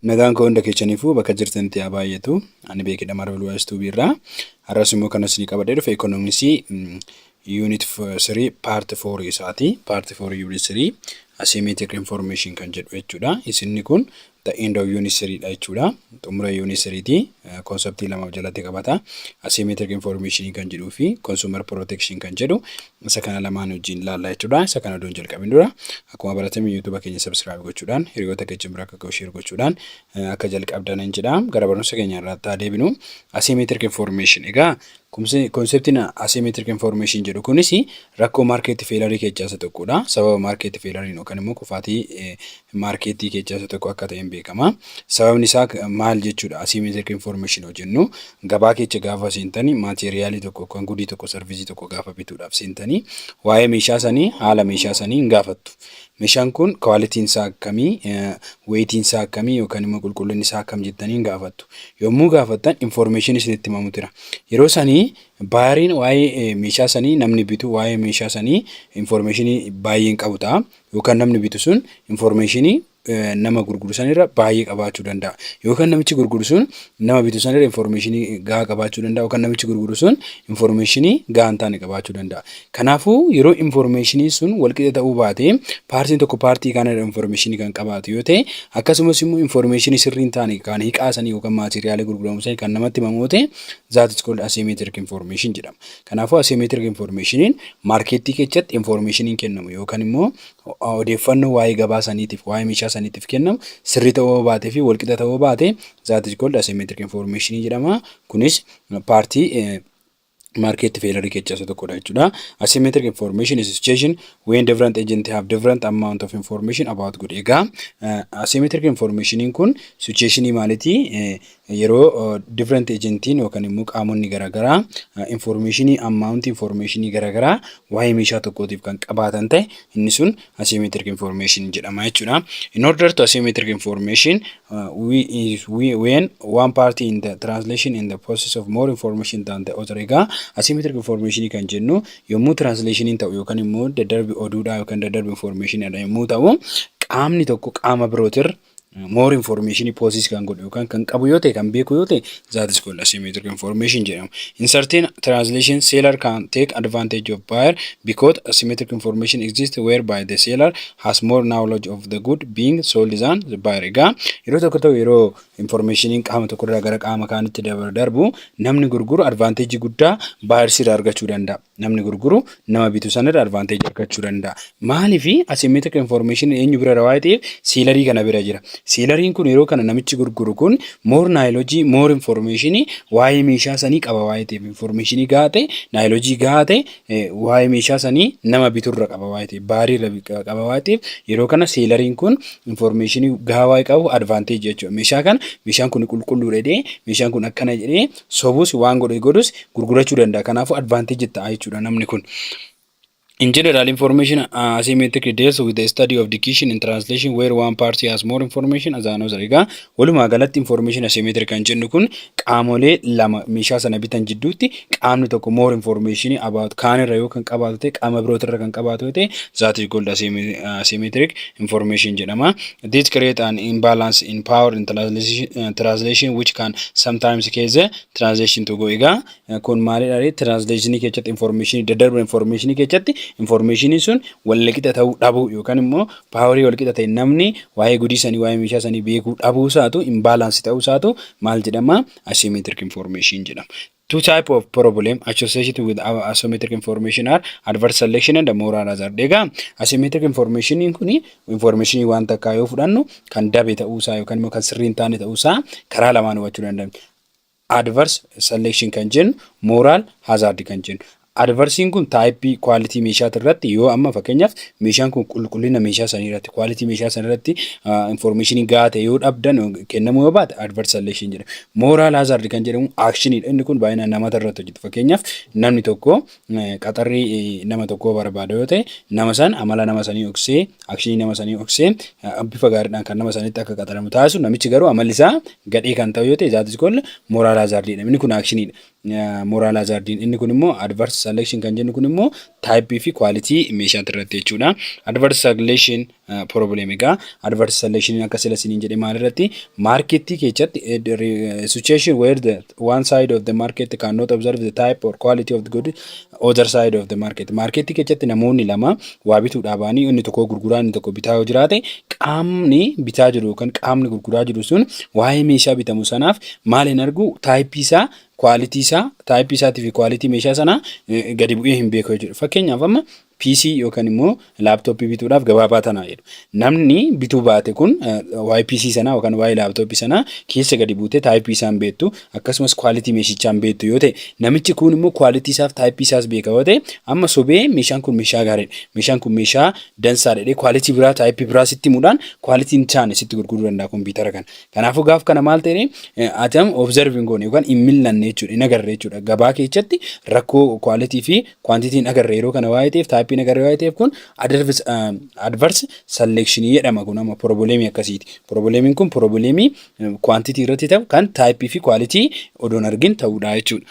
Nagaan koo hunda keechaniifuu bakka jirtanitti haa baay'atu. Ani beekidha Marvel Wise Tube irraa. Har'as immoo kan isinii qabadhee dhufe ekonomiksii unit 3 part 4 isaati. Part 4 unit 3 asymmetric information kan jedhu jechuudha. Isinni kun the end of unit 3 dha jechuudha. Xumura unit 3 ti. Konseptii lama of jalatti qabata. Asymmetric information kan jedhuu fi consumer protection kan jedhu Isa kana lamaan wajjin ilaalla jechuudha. Isa kana odoon jalqabin dura akkuma baratame YouTube keenya subscribe gochuudhaan hiriyoota keessan bira akka ga'u share gochuudhaan akka jalqabdan hin jedha. Gara barumsa keenya irratti haa deebinu. Asymmetric information egaa konseptiin asymmetric information jedhu kunis rakkoo market failure keessaa isa tokkodha. Sababa market failure yookaan immoo kufaatii maarkeettii keessaa isa tokko akka ta'een beekama. Sababni isaa maal jechuudha asymmetric information yoo jennu gabaa keessa gaafa seentanii maateeriyaalii tokko yookaan gudii tokko sarvisii tokko gaafa bituudhaaf seentanii waa'ee meeshaa sanii haala meeshaa sanii hin gaafattu. Meeshaan kun kwaalitiin isaa akkamii, weetiin isaa akkamii yookaan immoo qulqullinni isaa akkam jettanii hin gaafattu. Yommuu gaafattan information isinitti himamu jira. Yeroo sanii baayariin waa'ee meeshaa sanii namni bitu waa'ee meeshaa sanii information baay'een qabu ta'a. yookaan namni bitu sun information nama gurguru sanirra baay'ee qabaachuu danda'a. Yookaan namichi gurguru sun nama bitu sanirra information gahaa qabaachuu danda'a. Yookaan namichi gurguru sun information gahaa hin taane qabaachuu danda'a. Kanaafuu yeroo information sun walqixa ta'uu baate paartiin tokko paartii kaanirra information kan qabaatu yoo ta'e akkasumas immoo information sirrii hin taane kan hiqaasanii yookaan maatiriyaalee gurguramu sana kan namatti himamu yoo ta'e that is called asymmetric information jedhama. Kanaafuu asiyoomeetirik infoormeeshiniin maarkeettii keessatti infoormeeshiniin kennamu yookaan immoo odeeffannoo waa'ee gabaa saniitiif waa'ee meeshaa saniitiif kennamu sirrii ta'uu baatee fi walqixa ta'uu baate zaat is kooldi asiyoomeetirik infoormeeshinii jedhama. Kunis paartii maarkeetti feelarii keessaa isa tokkodha jechuudha. Asiyoomeetirik infoormeeshin is situation when different agent have different amount of information about good. Egaa asiyoomeetirik infoormeeshiniin kun sichueeshinii maalitii Yeroo different ejentiin yookaan immoo qaamonni garaagaraa informeeshinii ammaawunti informeeshinii garaagaraa waa'ee meeshaa tokkootiif kan qabaatan ta'e inni sun asymmetric information jedhama jechuudha. In order to asymmetric information we, we, when one party in the translation in the process of more information than the other egaa asymmetric information kan jennu yommuu translationiin ta'u yookaan immoo daddarbi oduudhaa yookaan daddarbi informationidha yommuu ta'u qaamni tokko qaama birootirra more information posis kan godhu yookaan kan qabu yoo ta'e kan beeku yoo ta'e that is called asymmetric information jedhama. In certain translation seller can take advantage of buyer because asymmetric information exists whereby the seller has more knowledge of the good being sold than the buyer. Egaa yeroo tokko ta'u yeroo informationiin qaama tokko irraa gara qaama kaanitti darbu namni gurguru advantage guddaa buyer irraa argachuu danda'a. Namni gurguru nama bitu sanarra advantage argachuu danda'a. Maaliif asymmetric information eenyu bira waan ta'eef siilarii kana bira jira. Siilariin kun yeroo kana namichi gurguru kun more knowledge, more information waa'ee meeshaa sanii qaba waan ta'eef information gahaa ta'e, knowledge gahaa ta'e waa'ee meeshaa sanii nama biturra qaba waan ta'eef baariirra qaba waan ta'eef yeroo kana siilariin kun information gahaa waa'ee qabu advantage jechuudha. Meeshaa kana meeshaan kun qulqulluudha jedhee meeshaan kun akkana jedhee sobus waan godhe godhus gurgurachuu danda'a. Kanaafuu advantage ta'a jechuudha namni kun. In general, information uh, asymmetric deals with the study of dictation and translation where one party has more information as another. Egaa walumaa galatti information asymmetric kan jennu kun qaamolee lama meeshaa sana bitan jidduutti qaamni tokko more information about kaanirra yoo kan qabaatu ta'e qaama birootirra kan qabaatu yoo ta'e that is called asymmetric information jedhama. This create an imbalance in power in translation which can sometimes cause translation to go egaa kun maalidha translation keessatti information daddarba information keessatti information sun walqixa ta'uu dhabuu yookaan immoo power walqixa ta'e namni waa'ee gudii sanii waa'ee meeshaa sanii beekuu dhabuu isaatu imbalance ta'uu isaatu maal jedhama asymmetric information jedhama. Two type of problem associated with our asymmetric information are adverse selection and moral hazard. Egaa asymmetric information kun information waan takkaa yoo fudhannu kan dabe ta'uusaa yookaan immoo kan sirrii hin taane ta'uusaa karaa lamaan hubachuu dandeenya. Adverse selection kan jennu moral hazard kan jennu. Adversing kun type quality meeshaati irratti yoo amma fakkeenyaaf meeshaan kun qulqullina meeshaa sanii irratti quality meeshaa sanii irratti information gahaa ta'e yoo dhabdan kennamuu yoo baate adverse selection jedhama. Moral hazard kan jedhamu action dha inni kun baay'inaan namoota irratti hojjeta. Fakkeenyaaf namni tokko qaxarri nama tokkoo barbaada yoo ta'e nama san amala nama sanii oksee akshinii nama sanii oksee bifa gaariidhaan kan nama sanitti akka qaxaramu taasisu namichi garuu amalli isaa gadhee kan ta'u yoo ta'e zaatis kun moral hazard jedhama. Inni kun action dha. Moral hazardiin inni kun immoo adverse selection kan jennu kun immoo type fi quality meeshaatti irratti jechuudha. Adverse selection problem egaa adverse selection akka sila siniin jedhe maal irratti market keessatti situation where the one side of the market cannot observe the type or quality of the good other side of the market maarkeettii keessatti namoonni lama waa bituudhaa ba'anii inni tokko gurguraa inni tokko bitaa yoo jiraate qaamni bitaa jiru yookaan qaamni gurguraa jiru sun waa'ee meeshaa bitamu sanaaf maal hin argu taayippii isaa kwaalitii isaa taayippii isaatii fi kwaalitii meeshaa sanaa eh, gadi bu'ee hin beeku jechuudha fakkeenyaaf amma PC yookaan immoo Laaptooppii bituudhaaf gabaa baatanaa jedhu. Namni bituu baate kun YPC sanaa yookaan waa'ee laaptooppii sanaa keessa gadi buutee taayipii isaan beektu akkasumas kwaalitii meeshichaan beektu yoo ta'e namichi kun immoo kwaalitii isaaf taayipii isaas beeka yoo ta'e amma sobee meeshaan kun meeshaa gaariidha. Meeshaan kun meeshaa dansaa dhedhee kwaalitii biraa taayipii biraa sitti himuudhaan kwaalitiin isaani sitti gurguruu danda'a kompiitara kana. Kanaafuu gaaf kana maal ta'e atam observing goone yookaan hin millanne jechuudha hin agarre jechuudha. Gabaa keessatti rakkoo kwaalitii fi Kwantitiin agarre yeroo kana waa'ee ta'eef taayippiin agarre waa'ee ta'eef kun adverse selection jedhama kun amma piroobileemii akkasiiti. Piroobileemiin kun piroobileemii kwantitii irratti ta'u kan taayippii fi kwaalitii odoon argin ta'uudha jechuudha.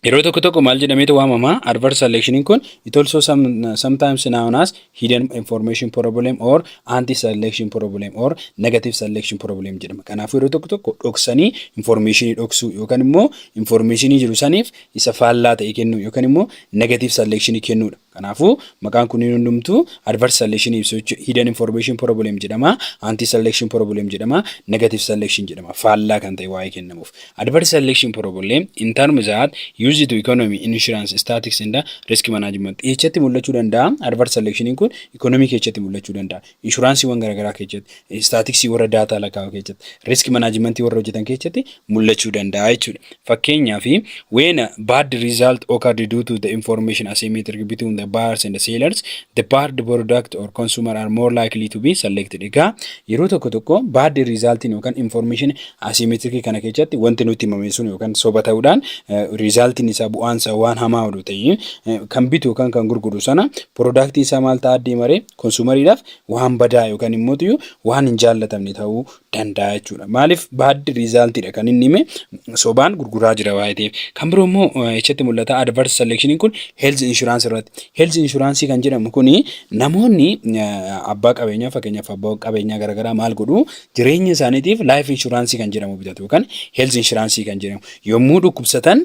Yeroo tokko tokko maal jedhameetu waamama adverse selectioniin kun it also some, sometimes known as hidden information problem or anti selection problem or negative selection problem jedhama. Kanaafuu yeroo tokko tokko dhoksanii informationii dhoksuu yookaan immoo informationii jiru saniif isa faallaa ta'e kennuu yookaan immoo negative selection kennuudha. Kanaafuu maqaan kunniin hundumtuu adverse selection ibsu jechuudha. Hidden information problem jedhama, anti selection problem jedhama, negative selection jedhama. Faallaa kan ta'e waa'ee kennamuuf. Adverse selection problem in terms that use to economy, insurance, statics and risk management. Eessatti mul'achuu danda'a? Adverse selection kun economy keessatti mul'achuu danda'a. inshuraansiiwwan garagaraa keessatti, istaatiksii warra daataa lakkaa'uu keessatti, risk management warra hojjetan keessatti mul'achuu danda'a jechuudha. Fakkeenyaaf, when a bad result occurred due to the information asymmetric between the buyers and the sellers, the bad product or consumer are more likely to be selected. Egaa yeroo tokko tokko bad resultiin yookaan information asymmetric kana keessatti wanti nutti himame sun yookaan soba ta'uudhaan resultiin isaa bu'aan isaa waan hamaa oduu ta'e kan bitu yookaan kan gurguru sana product isaa maal ta'aa deema ree Konsuumariidhaaf waan badaa yookaan immoo iyyuu waan hin jaallatamne ta'uu danda'a jechuudha. Maaliif baad riizaaltiidha kan inni hime sobaan gurguraa jira waa'ee ta'eef. Kan biroo immoo echatti mul'ata adverse selection kun health insurance irratti. Health insurance kan jedhamu kun namoonni abbaa qabeenyaa fakkeenyaaf abbaa qabeenyaa garaagaraa maal godhu jireenya isaaniitiif life insurance kan jedhamu bitatu yookaan health insurance kan jedhamu yommuu dhukkubsatan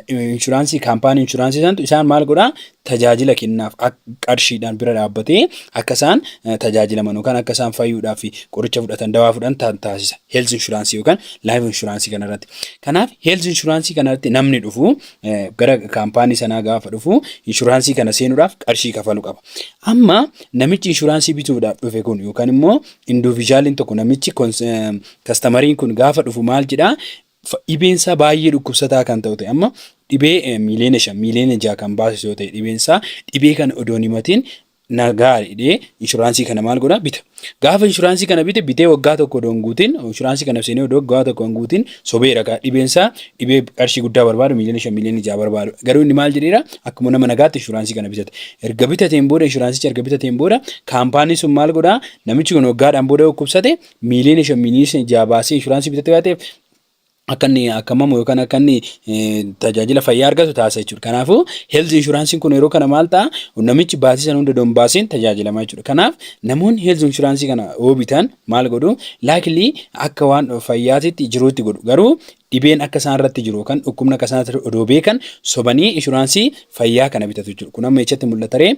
inshuraansii kaampaanii inshuraansii santu isaan maal godhaa tajaajila kennaaf ak- qarshiidhaan bira dhaabbatee akka isaan eh, tajaajilaman yookaan akka isaan fayyuudhaaf fi qoricha fudhatan dawaa fudhan ta- taasisa health inshuraansii yookaan life inshuraansii kanarratti kanaaf health inshuraansii kanarratti namni dhufu eh, gara kaampaanii sanaa gaafa dhufu inshuraansii kana seenuudhaaf qarshii kafalu qaba amma namichi inshuraansii bituudhaaf dhufe kun yookaan immoo individualiin tokko namichi kons- eh, kastamariin kun gaafa dhufu maal jedhaa Fa, dhibeen isaa baay'ee dhukkubsataa kan ta'u ta'e amma dhibee eh, miiliyoona shan miiliyoona jaha kan baasisu yoo ta'e dhibeen isaa dhibee kana odoo hin himatiin na gaari jedhee inshuraansii kana maal godha bita. Gaafa inshuraansii kana bite bitee waggaa tokko odoo hin guutiin inshuraansii kana seenee odoo waggaa tokko hin guutiin sobeera kaa dhibeen isaa dhibee qarshii guddaa barbaadu miiliyoona shan miiliyoona jaha barbaadu garuu inni maal jedheera akkuma nama nagaatti inshuraansii kana bitate. Erga bitateen booda inshuraansicha erga bitateen booda kaampaanii sun maal godha namichi kun waggaadhaan booda dhukkubsate miiliyoona shan miiliyoona jaha baasee inshuraansii bitatte waan ta'eef akka inni akkamamu yookaan akka inni tajaajila fayyaa argatu taasisa jechuudha. Kanaafuu health inshuraansiin kun yeroo kana maal ta'a namichi baasii sana hunda don baasiin tajaajilama jechuudha. Kanaaf namoonni health inshuraansii kana yoo bitan maal godhu laakilii akka waan fayyaatitti jiruutti godhu garuu dhibeen akka isaan irratti jiru yookaan dhukkubni akka isaan irratti odoo beekan sobanii inshuraansii fayyaa kana bitatu jechuudha. Kun amma echatti mul'ataree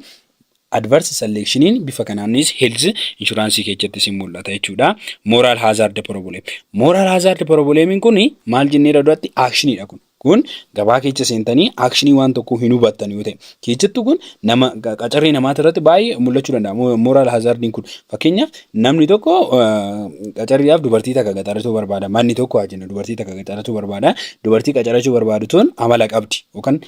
Adverse selection bifa kanaanis health insurance keessattis hin mul'ata jechuudha. Moral hazard problem. Moral hazard problem kun maal jenneera duratti action dha kun. Kun gabaa keessa seentanii action waan tokkoo hin hubattan yoo ta'e. Keessattuu kun nama qacarrii namaati irratti baay'ee mul'achuu danda'a. Moral hazardiin kun fakkeenyaaf namni tokko qacarriidhaaf dubartii takka qacarachuu barbaada. Manni tokko haa jennu dubartii takka qacarachuu barbaada. Dubartii qacarachuu barbaadu tun amala qabdi yookaan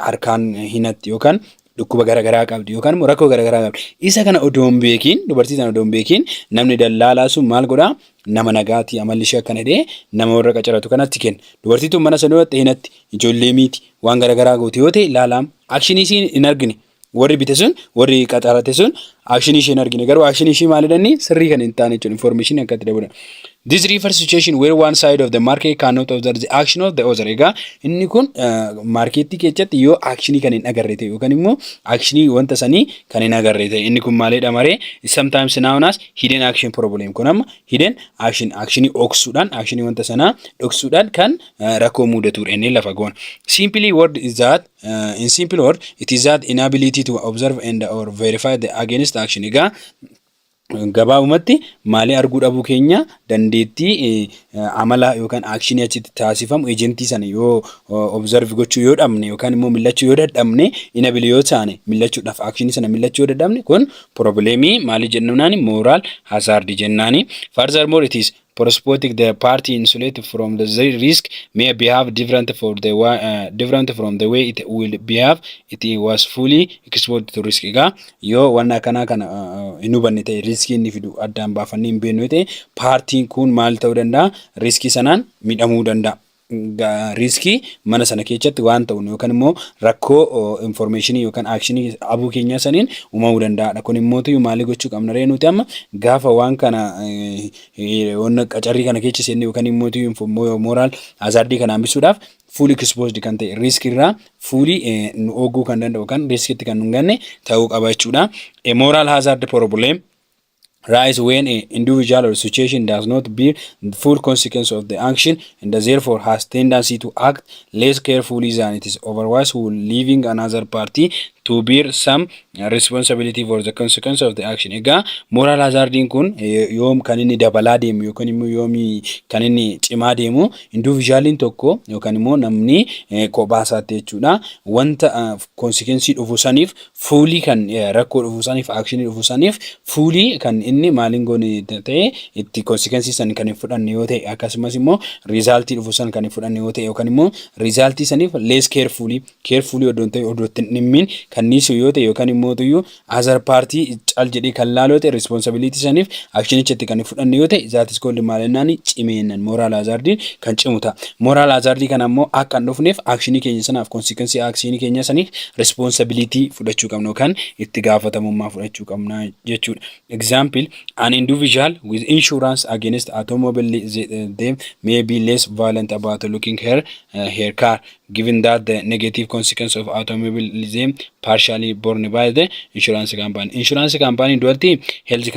harkaan hinatti yookaan dhukkuba garagaraa qabdi yookaan immoo rakkoo garagaraa qabdi. Isa kana odoo hin beekiin dubartii sana odoo hin beekiin namni dallaalaa sun maal godhaa nama nagaati amalli ishee akkana jedhee nama warra qacaratu kanatti kenna. Dubartii tun mana sana yoo ta'e hinatti ijoollee miiti waan garagaraa goote yoo ta'e laalaam akshinii isiin hin argine warri bite sun warri qacarate sun Akshinii isheen argine garuu akshinii ishii maalidhani sirrii kan hin taane jechuudha information akka itti dabalan. This refers to situation where one side of the market cannot observe the action of the other. Egaa inni kun maarkeettii keessatti yoo akshinii kan hin agarre ta'e yookaan immoo akshinii wanta sanii kan hin agarre ta'e inni kun maalidha maree sometimes known as hidden action problem kun amma hidden action akshinii dhoksuudhaan akshinii wanta sanaa dhoksuudhaan kan rakkoo mudatudha inni lafa goona. Simply word is that Uh, in simple word, it is that inability to observe and or verify the against action. Egaa gabaabumatti maalii arguu dhabuu keenya dandeettii eh, amala yookaan aakshinii achitti taasifamu ejentii sana yoo observe gochuu yoo dhabne yookaan immoo millachuu yoo dadhabne inabili yoo taane millachuudhaaf aakshinii sana millachuu yoo dadhabne kun probleemii maalii jennunaani mooraal hazaardi jennaani furthermore it is Prospotic the party insulate from the zri- risk may behave different for the wa- uh, different from the way it will behave it was fully exposed to risk egaa yoo waan akkanaa kana uh, uh, hin hubanne ta'e riskii inni fidu addaan baafannee hin beeknu ta'e paartiin kun maal ta'uu danda'a riskii sanaan miidhamuu danda'a. Riiskii mana sana keechatti waan ta'uun yookaan immoo rakkoo informeeshinii yookaan aakshinii abuu keenyaa saniin uumamuu danda'aadha. Kun immoo tuyyu maalii gochuu qabna ree nuti amma gaafa waan kana wanna qacarrii kana keecha seenne yookaan immoo tuyyu mooraal azaardii kana hambisuudhaaf fuulii kispoosdi kan ta'e riiskii irraa fuulii nu ooguu kan danda'u yookaan riiskiitti kan nu ganne ta'uu qaba jechuudha. Mooraal hazaard porobuleem rise when a individual or situation does not bear the full consequence of the action and therefore has tendency to act less carefully than it is otherwise will leaving another party to bear some responsibility for the consequence of the action. Egaa moral hazardiin kun yoom kan inni dabalaa deemu yookaan immoo yoomii kan inni cimaa deemu individualiin tokko yookaan immoo namni kophaa isaatti jechuudha wanta konsekensii dhufu saniif Fuulii kan rakkoo dhufuu saniif aakshinii dhufuu saniif fuulii kan inni maaliin goone ta'e itti konsikensii san kan hin fudhanne yoo ta'e akkasumas immoo riizaaltii dhufuu san kan hin fudhanne yoo ta'e yookaan immoo riizaaltii saniif lees keerfuulii keerfuulii odoo ta'e odoo ittiin dhimmiin kan niisuu yoo ta'e yookaan immoo tuyyuu azar paartii cal jedhee kan laaloo ta'e riispoonsabiliitii saniif aakshinichatti kan hin fudhanne yoo ta'e zaatis koolli maalinnaanii cimeennan mooraal azaardiin kan cimu ta'a. Moral hazard kana immoo akka hin dhufneef akshinii keenya sanaaf konsiikensii akshinii keenya saniif responsibility fudhachuu qabna yookaan itti gaafatamummaa fudhachuu qabna jechuudha. Example, an individual with insurance against automobile them may be less violent about looking her, uh, her car given that the negative consequence of automobile them partially borne by the insurance company. Insurance company duratti health,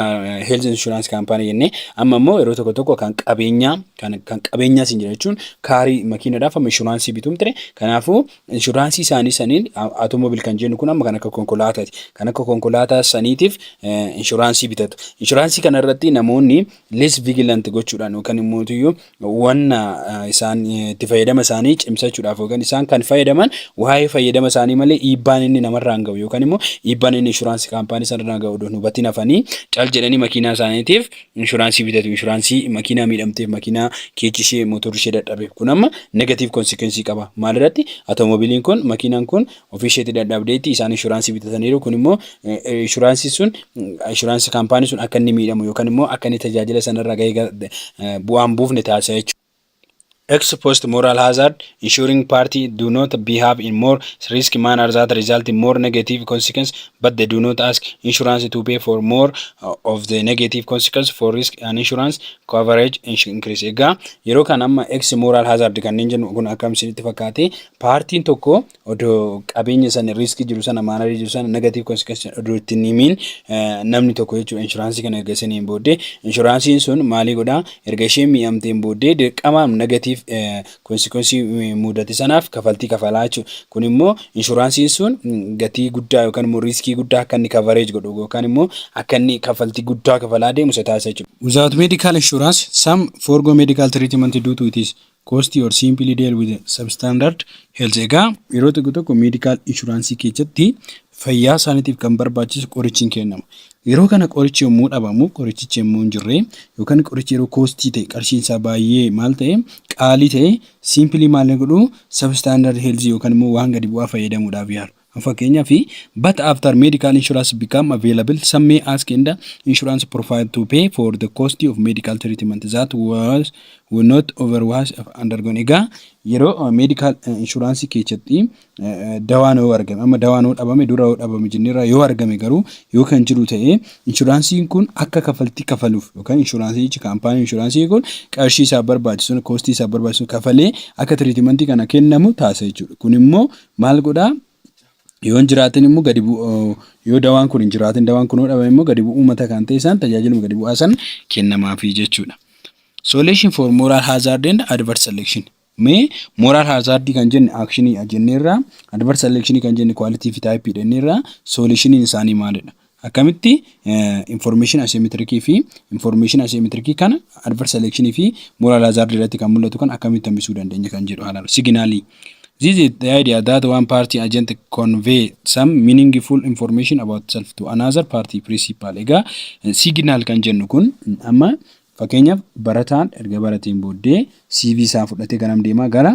health insurance company jennee amma immoo yeroo tokko tokko kan qabeenyaa kan kan qabeenyaa siin jira jechuun kaarii makiinadhaaf amma inshuraansii bituun ture kanaafuu inshuraansii isaanii saniin automobile kan jennu kun amma kan akka konkolaataati kan akka konkolaataa saniitiif inshuraansii bitatu inshuraansii kana irratti namoonni less vigilant gochuudhaan yookaan immoo iyyuu wanna isaan itti fayyadama isaanii cimsachuudhaaf yookaan isaan kan fayyadaman waa'ee fayyadama isaanii malee dhiibbaan inni namarraan ga'u yookaan immoo dhiibbaan inni inshuraansii kaampaanii sanarraan ga'u odoo hin hubatiin hafanii cal jedhanii makiinaa isaaniitiif inshuraansii bitatu inshuraansii makiinaa miidhamteef makiinaa keechi ishee motorri ishee dadhabeef kun amma negatiiv konsekensii qaba maalirratti atoomobiliin kun makiinaan kun ofii isheetti dadhabdeetti isaan inshuraansii bitataniiru kun immoo inshuraansii sun inshuraansii kaampaanii sun akka inni miidhamu yookaan immoo akka inni tajaajila sanarraa gahee bu'aan buufne taasisa jechuudha. Ex post moral hazard, insuring party do not behave in more risk manner that result in more negative consequence but they do not ask insurance to pay for more of the negative consequence for risk and insurance coverage increase. Egaa yeroo kan amma ex moral hazard kanneen jennu kun akkam isinitti fakkaate paartiin tokko odoo qabeenya sana riiskii jiru sana maanarii jiru sana negative consequence odoo itti hin himiin namni tokko jechuudha inshuraansii kana erga isiniin booddee inshuraansiin sun maalii godhaa erga isheen miidhamteen booddee dirqama negative consequence mudate sanaaf kafaltii kafalaa jechuudha kun immoo inshuraansiin sun gatii guddaa yookaan immoo riiskii guddaa akka inni coverage godhu yookaan immoo akka inni kafaltii guddaa kafalaa deemu isa taasisa jechuudha. Without medical insurance some forgo medical treatment due to it is Cost or simply deal with a substandard health egaa yeroo tokko tokko medical insurance keessatti fayyaa isaaniitiif kan barbaachisu qorichi hin kennama. Yeroo kana qorichi yommuu dhabamu qorichichi yommuu hin jirre yookaan qorichi yeroo koostii ta'e qarshiin isaa baay'ee maal ta'e qaalii ta'e simply maal godhu substandard health yookaan immoo waan gadi bu'aa fayyadamuudhaaf yaalu. Fakkeenyaaf, But after medical insurance become available, some may ask in the insurance profile to pay for the cost of medical treatment that was will not otherwise have undergone. Egaa yeroo medical insurance keessatti eh, dawaan yoo argame amma dawaan yoo dhabame dura yoo dhabame jenneerra yoo argame garuu yoo kan jiru ta'e inshuraansiin kun akka kafaltii kafaluuf yookaan inshuraansichi kaampaanii inshuraansii kun qarshii isaa barbaachisuun koostii isaa barbaachisuun kafalee akka tiriitimantii kana kennamu taasisa jechuudha. Kun immoo Maal godhaa? Yoo hin jiraatin immoo gadi yoo dawaan kun hin jiraatin dawaan kun yoo dhabame immoo gadi bu'uu mata kan ta'e isaan tajaajiluma gadi bu'aa san kennamaafi jechuudha. Solution for moral hazard and adverse selection. Mee moral hazard kan jenne action jenneerra, adverse selection kan jenne quality fi type jenneerra, solutioniin isaanii maalidha? Akkamitti information asymmetric fi information asymmetric kana adverse selection fi moral hazard irratti kan mul'atu kan akkamitti hambisuu dandeenya kan jedhu haalaan signaalii. This is the idea that one party agent convey some meaningful information about self to another party principal. Egaa signal kan jennu kun amma Fakkeenyaaf barataan erga barateen booddee CV isaa fudhatee garam deemaa gara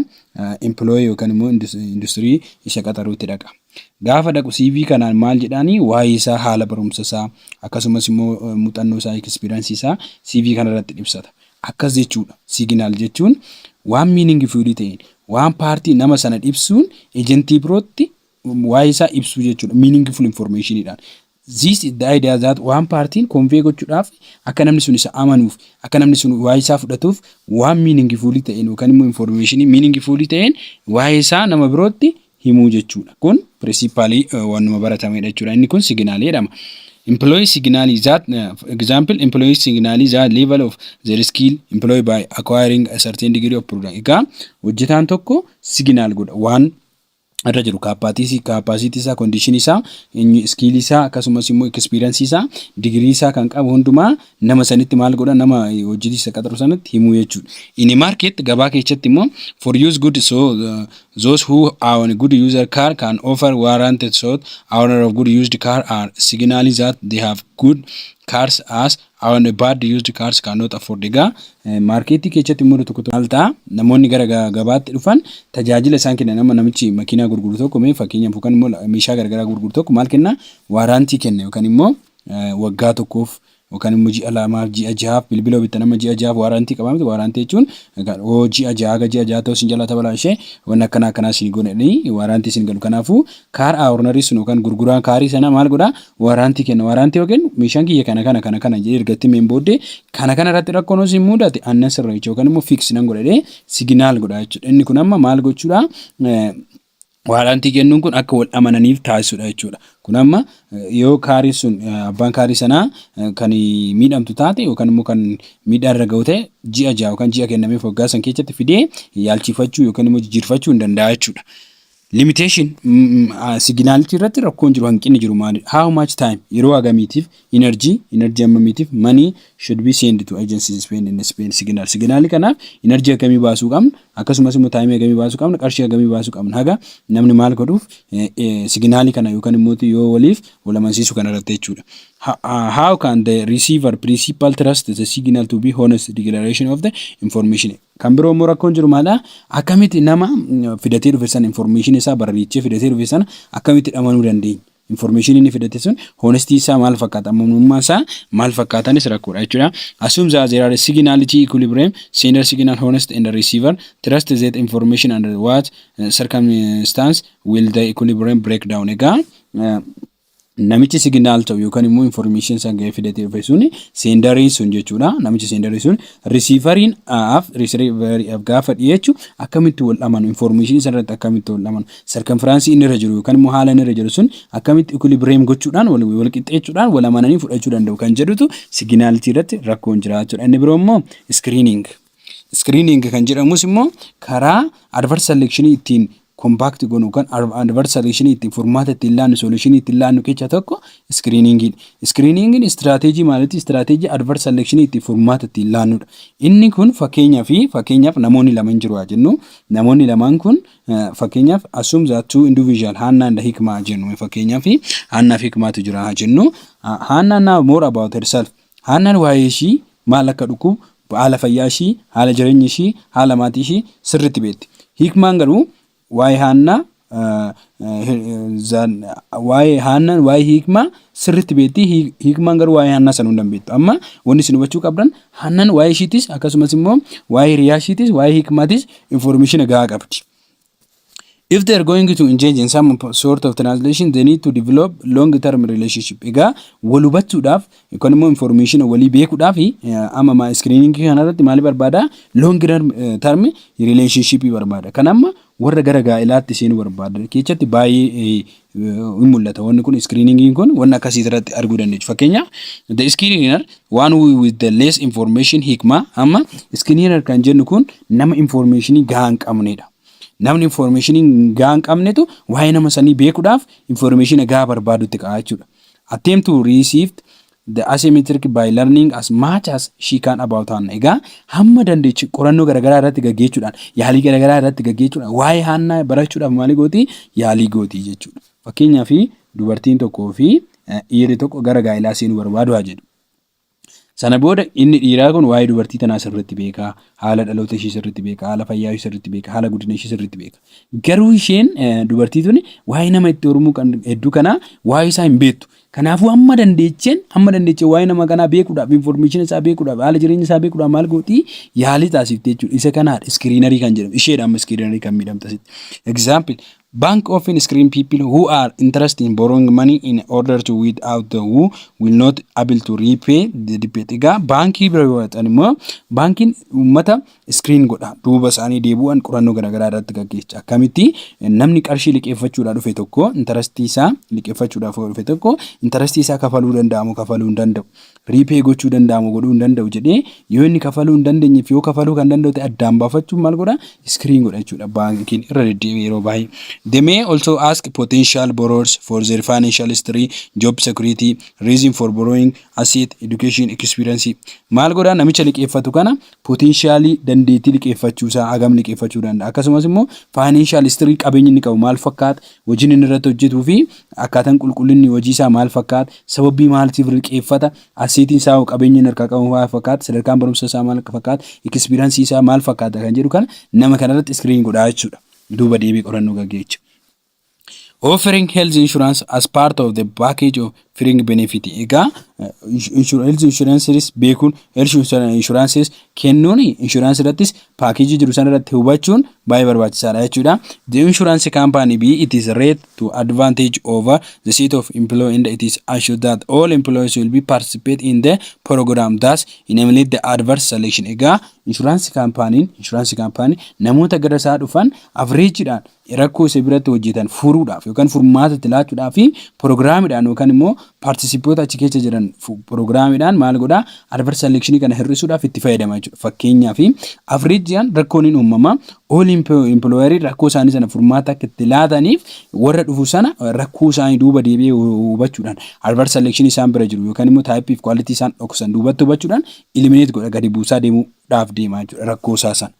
employee yookaan immoo industirii isa qaxaruutti dhaqa. Gaafa dhaqu CV kanaan maal jedhaanii waa'ee isaa haala barumsa isaa akkasumas immoo muuxannoo isaa ekspiraansii isaa CV kana irratti ibsata. Akkas jechuudha siiginaal jechuun waan miiningi fiilii ta'een waan paartii nama sana ibsuun ejentii birootti waa'ee isaa ibsuu jechuudha miiningi fuul infoormeeshiniidhaan. This is the idea that one party convey gochuudhaaf akka namni sun isa amanuuf, akka namni sun waa'ee isaa fudhatuuf waan meaningful ta'een yookaan immoo information meaningful ta'een waa'ee isaa nama birootti himuu jechuudha. Kun principally waanuma baratamedha jechuudha. Inni kun signal jedhama. Employee signal that example employee signal the level of their skill employee by acquiring a certain degree of product. Egaa hojjetaan tokko signal godha waan irra jiru kaappaatiisii, kaappaasiitii isaa, kondiishinii isaa, inni iskiilii isaa akkasumas immoo ekispiiransii isaa, digirii isaa kan qabu hundumaa nama sanitti maal godha nama eh, hojjetii isa qaxaru sanatti himuu jechuudha. In a market gabaa keessatti immoo for use good so uh, those who own a good user car can offer warranted so owner of good used car are signaling that they have good cars as on a bad used cars cannot afford egaa maarkeetii keessatti immoo tokko tokko maal ta'a namoonni gara gabaatti dhufan tajaajila isaan kennan amma namichi makiinaa gurguru tokko mee fakkeenyaaf yookaan immoo meeshaa garagaraa gurguru tokko maal kenna waaraantii kenna yookaan immoo waggaa tokkoof yookaan immoo ji'a lamaaf ji'a jahaaf bilbila bitta nama ji'a jahaaf waaraantii qabaa miti waaraantii jechuun oo ji'a jahaa ga ji'a jahaa ta'uu isin jalaa tabalaa ishee wanni akkanaa akkanaa isin godhanii waaraantii isin galu kanaafuu kaar aawurnarii sun yookaan gurguraan kaarii sana maal godhaa waraantii kenna. Waraantii yookiin meeshaan kiyya kana kana kana kana jedhee erga itti himeen booddee kana kana irratti rakkoon osoo hin mudate annan sirreecha yookaan immoo fiiksi nan godha jedhee siginaal godha jechuudha. Inni kun amma maal gochuudha? Waraantii kennuun kun akka wal amananiif taasisuudha jechuudha. Kun amma yoo kaariin sun abbaan kaarii sanaa kan miidhamtu taate yookaan immoo kan miidhaa irra gahu ta'e ji'a ja'a yookaan ji'a kennameef waggaa san keessatti fidee yaalchifachuu yookaan immoo jijjiirfachuu hin danda'a jechuudha. Limitation, Siiginaalicha irratti rakkoon jiru, hanqinni jiru maalidha? How much time, Yeroo hagamiitiif? Energy, Energy hammamiitiif? Money should be send to agencies spend and spend signal, Siiginaali kanaaf energy hagamii baasuu qabna? Akkasumas immoo time hagamii baasuu qabna? Qarshii hagamii baasuu qabna? Haga namni maal godhuuf siiginaali kana yookaan immoo yoo waliif wal amansiisu kana irratti jechuudha. How can the receiver principal trust the signal to be honest declaration of the information? Kan biroo immoo rakkoon jiru maalidha? Akkamitti nama fidatee dhufe sana information isaa barariichee fidatee dhufe sana akkamitti dhamanuu dandeenya? Information inni fidate sun honesty isaa maal fakkaata? Amanamummaan isaa maal fakkaatanis rakkoodha jechuudha. Assume that there are signality equilibrium, sender signal honest and receiver trust that information under what circumstance will the equilibrium break down. Egaa namichi signal ta'u yookaan immoo information san ga'ee fidatee dhufe sun seendariin sun jechuudha namichi seendarii sun risiivariin af risiivariif gaafa dhiyeechu akkamitti wal dhamanu information san irratti akkamitti wal dhamanu sarkanfiraansii inni irra jiru yookaan immoo haala inni irra jiru sun akkamitti equilibrium gochuudhaan wal wal qixxeechuudhaan wal amananii fudhachuu danda'u kan jedhutu signality irratti rakkoon jira jechuudha inni biroo immoo screening Screening kan jedhamus immoo karaa adverse selection ittiin compact gonu kan adverse selection ittiin furmaata ittiin laannu solution ittiin laannu keessa tokko screening dha. Screening strategy maaliti? Strategy adverse selection ittiin furmaata ittiin laannudha. Inni kun fakkeenyaa fi fakkeenyaaf namoonni lama hin jiru haa jennu. Namoonni lamaan kun fakkeenyaaf assume that two individual Haannaa and Hikmaa haa jennu. Fakkeenyaaf Haannaa fi Hikmaatu jira haa jennu. Haannaa now more about herself. Haannaan waa'ee ishii maal akka dhukkubu, haala fayyaa ishii, haala jireenya ishii, haala maatii ishii sirriitti beekti. Hiikmaan garuu waa'ee Haannaa waa'ee Haannaan waa'ee Hiikmaa sirriitti beekti. Hiikmaan garuu waa'ee Haannaa sana hunda hin beektu. Amma wanni isin hubachuu qabdan Haannaan waa'ee ishiitis akkasumas immoo waa'ee hiriyaa ishiitis waa'ee Hiikmaatis informeeshina gahaa qabdi. If they are going to engage in some sort of translation, they need to develop long-term relationship. Egaa wal hubachuudhaaf yookaan immoo information walii beekuudhaaf amma maa screening kanarratti maali barbaada? Long term relationship barbaada. Kan amma warra gara gaa'elaatti seenuu barbaada. Keessatti baay'ee hin mul'ata wanni kun screeningiin kun wanna akkasii irratti arguu dandeechu fakkeenyaaf the screener one who with the less information hikma amma screener kan jennu kun nama informationii gahaa hin qabnedha namni informationii gahaa hin qabnetu waa'ee nama sanii beekuudhaaf informationa gahaa barbaadutti ka'a jechuudha attempt to receive The asymmetric by learning as much as she can about Hannah. Egaa hamma dandeechi qorannoo garagaraa irratti gaggeechuudhaan, yaalii garagaraa irratti gaggeechuudhaan, waa'ee Haannaa barachuudhaaf maali gooti? Yaalii gooti jechuudha. Fakkeenyaaf dubartiin tokkoo fi dhiirri tokko gara gaa'ilaa seenuu barbaadu haa jedhu. Sana booda inni dhiiraa kun waa'ee dubartii tanaa sirriitti beeka, haala dhaloota ishii sirriitti beeka, haala fayyaa ishii sirriitti beeka, haala guddina ishii sirriitti beeka. Garuu isheen dubartii tuni waa'ee nama itti hormuu kan hedduu kanaa waa'ee isaa hin beektu. Kanaafuu hamma dandeechen hamma dandeechen waa'ee nama kanaa beekuudhaaf information isaa beekuudhaaf haala jireenya isaa beekuudhaaf maal gooti yaalii taasifte jechuudha. Isa kanaadha iskiriinarii kan jedhamu isheedha amma iskiriinarii kan miidhamte asitti. Example Bank often screen people who are interested in borrowing money in order to weed out the who will not able to repay the debt. Egaa baankii bira yoo dhaqan immoo baankiin uummata screen godha duuba isaanii deebu'an qorannoo garaagaraa irratti gaggeescha akkamitti namni qarshii liqeeffachuudhaa dhufe tokko intarastii isaa liqeeffachuudhaaf yoo dhufe tokko intarastii isaa kafaluu danda'amu kafaluu hin danda'u riipee gochuu danda'amu godhuu hin danda'u jedhee yoo inni kafaluu hin dandeenyeef yoo kafaluu kan danda'u ta'e addaan baafachuun maal godha screen godha jechuudha baankiin irra deddeebi'ee yeroo baay'ee. They may also ask potential borrowers for their financial history, job security, reason for borrowing, asset, education, experience. Maal godha namicha liqeeffatu kana Potentially dandeettii liqeeffachuu isaa hagam liqeeffachuu danda'a akkasumas immoo financial history qabeenyi inni qabu maal fakkaata hojiin inni irratti hojjetuu fi akkaataan qulqullinni hojii isaa maal fakkaata sababii maaltiif liqeeffata asseetiin isaa hoo qabeenyi inni harkaa qabu maal fakkaata sadarkaan barumsa isaa maal fakkaata experience isaa maal fakkaata kan jedhu kana nama kanarratti screen godhaa jechuudha duuba deebii qorannoo gaggeecha. offering health insurance as part of the package of offering benefit egaa health insurances beekuun health insurances kennuun insurance irrattis paakeejii jiru sana irratti hubachuun baay'ee barbaachisaadha jechuudha the insurance company b it is rate to advantage over the seat of employee and it is assured that all employees will be participate in the program thus eliminate the adverse selection egaa insurance company insurance company namoota gara isaa dhufan avreejiidhaan rakkoo isa biratti hojjetan furuudhaaf yookaan furmaata itti laachuudhaa fi piroogiraamiidhaan yookaan immoo paartisipoota achi keessa jiran piroogiraamiidhaan maal godhaa adverse selection kana hir'isuudhaaf itti fayyadama jechuudha. Fakkeenyaaf afreejiyaan rakkoon hin uumama all employerii rakkoo isaanii sana furmaata akka itti laataniif warra dhufu sana rakkoo isaanii duuba deebi'ee hubachuudhaan adverse selection isaan bira jiru yookaan immoo type fi quality isaan dhoksan duubatti hubachuudhaan eliminate godha gadi buusaa deemuudhaaf deema jechuudha rakkoo isaa sana.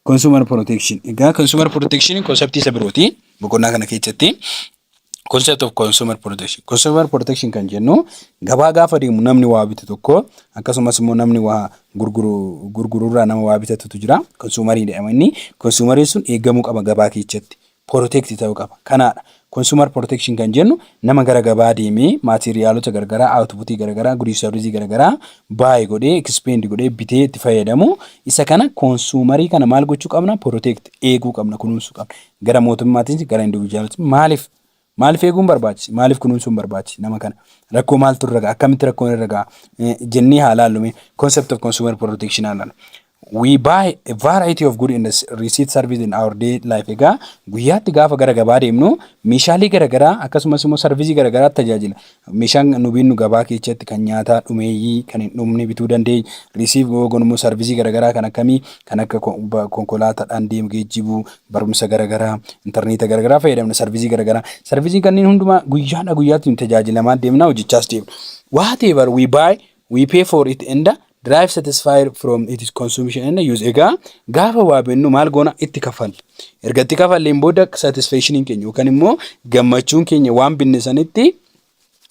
Consumer Protection. Egaa Consumer Protection konseptii isa birooti. Boqonnaa kana keessatti concept of consumer protection. Consumer protection kan jennu gabaa gaafa deemu namni waa bitu tokko akkasumas immoo namni waa gurguru gurgururraa nama waa bitatutu jira. Consumerii jedhama inni. Consumerii sun eegamuu qaba gabaa keessatti. protect ta'uu qaba. Kanaadha consumer protection kan jennu nama gara gabaa deemee maateeriyaalota garagaraa output garagaraa gudiis sarviisii garagaraa buy godhee expend godhee bitee itti fayyadamu isa kana consumerii kana maal gochuu qabna protect eeguu qabna kunuunsuu qabna gara mootummaatiinis gara individualis maaliif Maaliif eeguun barbaachise? Maaliif kunuunsuun barbaachise nama kana? Rakkoo maaltu irra ga'a? Akkamitti rakkoon irra ga'a? Jennee haa laallu mee concept of consumer protection haa laallu. We buy a variety of good and receipt service in our day life. Egaa guyyaatti gaafa gara gabaa deemnu meeshaalee garaagaraa akkasumas immoo sarvisii garaagaraa tajaajila Meeshaan nu binnu gabaa keechatti kan nyaataa dhumeeyyii kan hin dhumne bituu dandeeny. Receive Yoogon immoo sarvisii garagaraa kan akkamii kan akka konkolaatadhaan deem geejjibuu, barumsa garagaraa, interneeta garagaraa fayyadamna sarvisii garagaraa. Sarvisiin kanneen hundumaa guyyaadha guyyaatti nu tajaajilamaa deemna hojjechaas deemna. Whatever we buy we pay for it and derive satisfied from its consumption and use egaa gaafa waa bennu maal goona itti kaffalla erga itti kaffalleen booda satisfactioniin keenya yookaan immoo gammachuun keenya waan binne sanitti